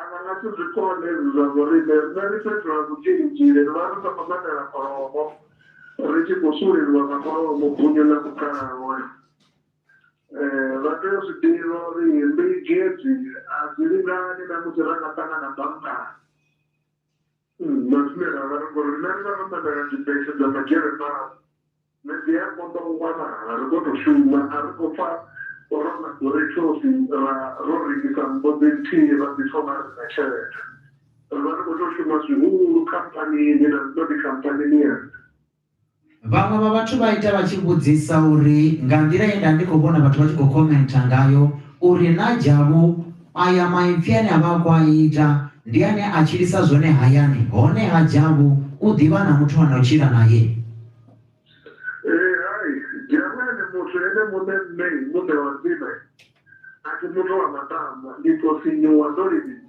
Speaker 8: A nga nga si zwi kone hezwi zwa zwo riṋe. Nṋe ndi fhethu ha vhudzhilidzhili, ri vha ri sa khou ṋamela kholomo, ri tshi khou sulelwa nga mulayo mupunyu na mukhalahola. Vha tea u zwi ḓivha uri mbigi hedzi a dzi lingani na musi ra nga ṱangana banngani. Nṋe zwine ra nga ri ngori riṋe ri vha ro ṋamela dzibese dza Majeremani nṋe dzi a konḓa u wanala ri khou tou shuma a ri khou pfha ro laboratory ra ro rengisa nnḓu dzi nthihi ra ḓi thoma ri na tshelede ri vha ri khou tou shuma zwihulu khamphanini na zwino ndi khamphanini ya nṋe. Vhaṅwe
Speaker 6: vha vhathu vha ita vha tshi vhudzisa uri nga nḓila ye nda ndi khou vhona vhathu vha tshi khou khomentha ngayo uri naa Jabu aya maipfi ane a vha a khou a ita ndi ane a tshilisa zwone hayani, honeha Jabu u ḓivha na muthu a no tshila nae? Ee, hai,
Speaker 8: Jabu ene muthu ene muṋe, Nṋe, Muṋe wa Nḓime, a thi muthu wa matambwa, ndi tou sinyuwa ndo livhisa.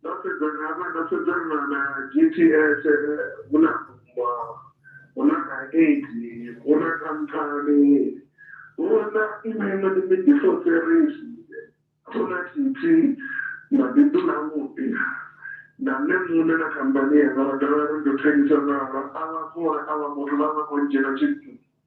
Speaker 8: ndo sedzana hafha ndo sedzana na g t s hu na kumba hu na na aid hu na khamphani hu na iṅwe iṅwe ndi midifoserisi hu na titi mabindu na muḓi na nṋe muṋe na khamphani yanga ra dovha ri ndo thengisa navha a vha khou ri a vha muthu vha vha khou ndzhiela tshithu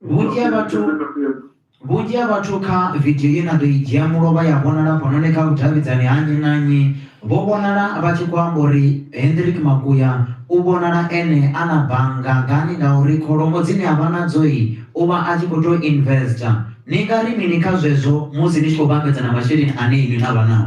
Speaker 8: vhunzhi ha
Speaker 6: vhathu vhunzhi ha vhathu kha vidio ye na ḓo i dzhia mulovha ya vhonala hafhanoni kha vhudavhidzani ha nnyi na nnyi vho vhonala vha tshi khou amba uri hendrik makuya u vhonala ene a na bannga ngani ngauri kholomo dzine a vha nadzoi u vha a tshi khou tou investa ni nga ri mini kha zwezwo musi ni tshi khou vhambedzana masheleni ane inwi na vha nao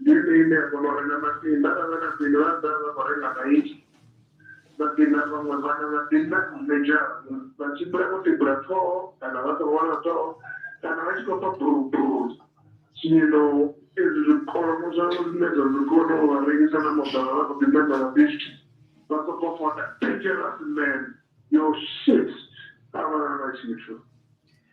Speaker 8: ndi ene ine a kona u renga masinda arali vha na peni vha ḓa vha khou renga maiti masinda vhaṅwe vhana masinda medzhara vha tshimbila vho tibula ṱhoho kana vha songo wana ṱhoho kana vha tshi khou pfa buruburu zwino ezwi zwikolomo zwavho zwine zwa zwi kona u vha rengisa na moḓoro vha khou ḓi ṋamela bisi vha sokou fota dangerous man yo shit a vha na tshithu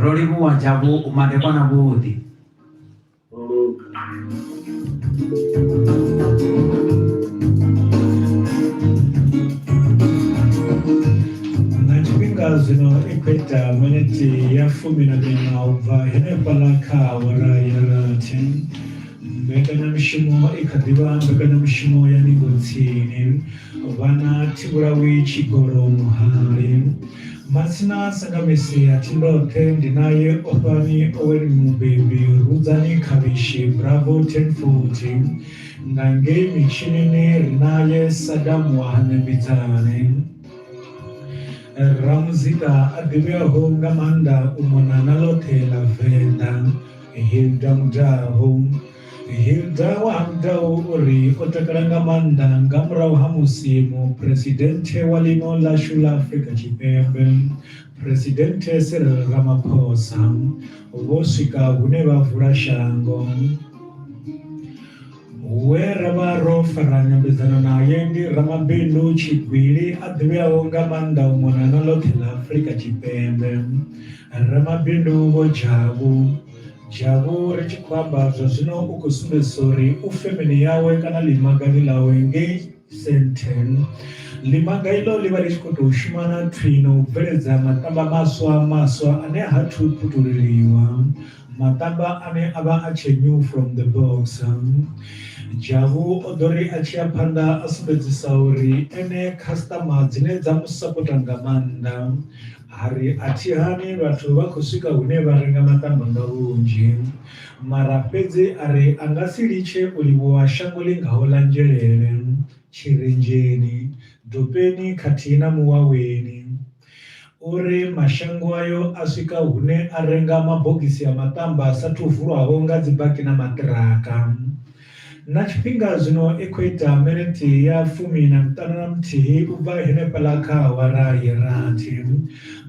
Speaker 6: Ro livhuwa tsha vhu madekwa na vhuḓi.
Speaker 1: na tshifhinga zwino i khou ita miniti ya fumi na miṋa u bva henefhaḽa kha awara ya rathi mbekanyamushumo i kha ḓivha mbekanyamushumo ya ningo tsini vhana thivhulawi tshigolo muhali Matsina sanga Messia thi ndoṱhe ndi naye Ofhani Owen Mubebi Rudzani Khavhishi Bravo Tenfold Nga ngei mitshinini ri naye Sadam wa ha Ṋembidzane Ramuzika a ḓivheaho nga maanḓa u mona na ḽoṱhe ḽa Venḓa Hilda Mudau. Hilda wa Hangou u ri o takala nga maanḓa nga murahu ha musi Muphuresidenthe wa ḽino ḽashu ḽa Afrika Tshipembe, Phresidenthe Cyril Ramaphosa, vho swika hune vha vula shango. We ra vha ro fara nyambedzano naye ndi ramabindu tshigwili a ḓivheaho nga maanḓa u mona na ḽoṱhe ḽa Afrika Tshipembe, Ramabindu Vho Jabu. Jabu ri tshi khou amba zwa zwino u khou sumbedzisa uri u femeni yawe kana ḽimagani ḽawe ngei Sandton. Ḽimaga iḽo ḽi vha ḽi tshi khou tou shuma na thwi na u bveledza maṱamba maswa maswa ane ha thu putuleliwa maṱamba ane a vha a tshe new from the box. Jabu o ḓo ri a tshi ya phanḓa a sumbedzisa uri ene khasiṱama dzine dza mu sapota nga maanḓa A ri, A thi hane vhathu vha khou swika hune vha renga maṱamba nga vhunzhi. Mara fhedzi a ri a nga si litshe u livhuwa shango ḽi ngaho ḽa Nzhelele, Tshirenzheni, Dopeni khathihi na Muwaweni. O ri, Mashango ayo a swika hune a renga mabogisi a maṱamba a sa athu vulwaho nga dzibaki na maṱiraka. Na tshifhinga zwino i khou ita miniti ya fumi na miṱanu na muthihi u bva henefhaḽa kha awara ya rathi.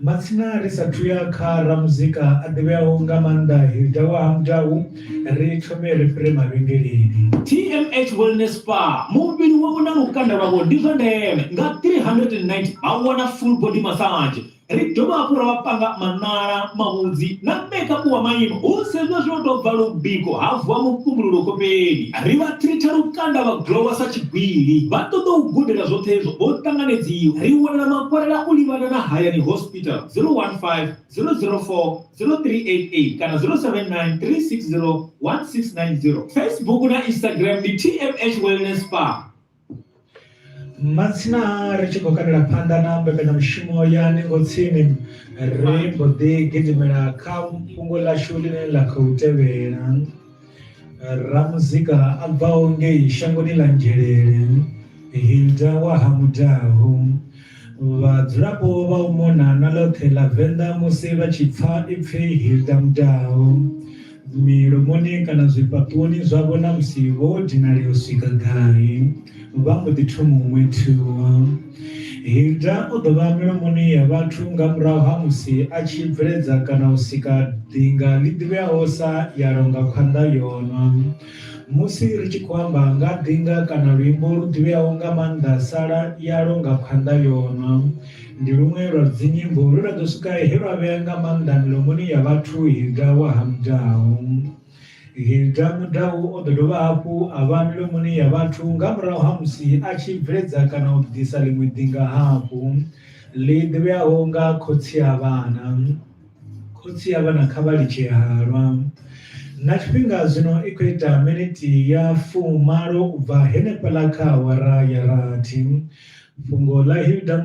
Speaker 1: Matsina ri sa thu ya kha ramuzika a ḓivheaho nga maanḓa Hilda wa Ha Mudau, ri thome ri fhire mavhengeleni. TMH
Speaker 5: Wellness Spa, muvhili wavho na lukanda lwavho ndi zwa ndeme. Nga R390 vha wana full body massage, ri dovha hafhu ra vha panga maṋala mavhudzi na mekapu wa maimo hu sedzwa zwo tou bva lubiko ha vuwa mufumululo khofheni ri vha tritha lukanda vha glowa sa tshigwili vha ṱoḓa u gudela zwoṱhe hezwo ho ṱanganedziwa ri wanela makwalela u livhana na hayani hospital 015 004 0388 kana 079 360 1690 facebook na instagram ndi tmh wellness farm matsina
Speaker 1: ri tshi khou kandela phanḓa na mbekanyamushumo ya ningo tsini ri mbo ḓi gidimela kha fhungo ḽashu ḽine ḽa khou tevhela ramuzika a bvaho ngei shangoni ḽa nzhelele hilda wa ha mudaho Vhadzulapo vha u mona na ḽoṱhe ḽa Venḓa musi vha tshi pfa ipfi Hilda Mudau milomoni kana zwifhaṱuwoni zwavho na musi vho dinalea u swika gai vha mbo ḓi thoma u ṅwethuwa Hilda o ḓo vha milomoni ya vhathu nga murahu ha musi a tshi bveledza kana u sika ḓinga ḽi ḓivheaho sa ya longa khwanḓa yonwa Musi ri tshi khou amba nga ḓinga kana luimbo lu ḓivheaho nga maanḓa sala yalo nga khwanḓa yo nwa, ndi luṅwe lwa dzinyimbo lwe lwa ḓo swika he lwa vhea nga maanḓa milomoni ya vhathu Hilda wa ha Mudau. Hilda Mudau o ḓo dovha hafhu a vha milomoni ya vhathu nga murahu ha musi a tshi bveledza kana u ḓisa ḽiṅwe ḓinga hafhu ḽi ḓivheaho nga Khotsi a Vhana. Khotsi ya vhana kha vha litshe halwa. Na tshifhinga zwino i khou ita miniti ya fumalo u bva henefhaḽa kha awara ya rathi. Fhungo ḽa Hilda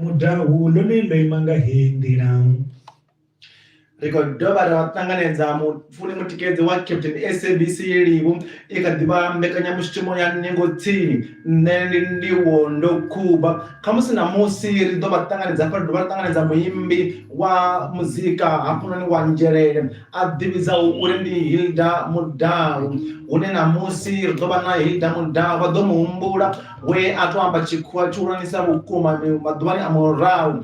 Speaker 1: Mudau ḽone ḽo ima nga heyi nḓila.
Speaker 2: Ri khou dovha ra ṱanganedza mu. Fune Mutikedzi wa Captain SABC Yelivhu i kha ḓi vha mbekanyamushumo ya ningo tsini. Nṋe ndi Ndivho Ndokhuba. Khamusi ṋamusi ri ḓo vha ṱanganedza hafha ri dovha ra ṱanganedza muimbi wa muzika hafhanoni wa nzhelele a ḓivhidzaho uri ndi Hilda Mudau hune ṋamusi ri ḓo vha na Hilda Mudau vha ḓo mu humbula we a tou amba tshikhuwa tshihulwanesa vhukuma maḓuvhani a murahu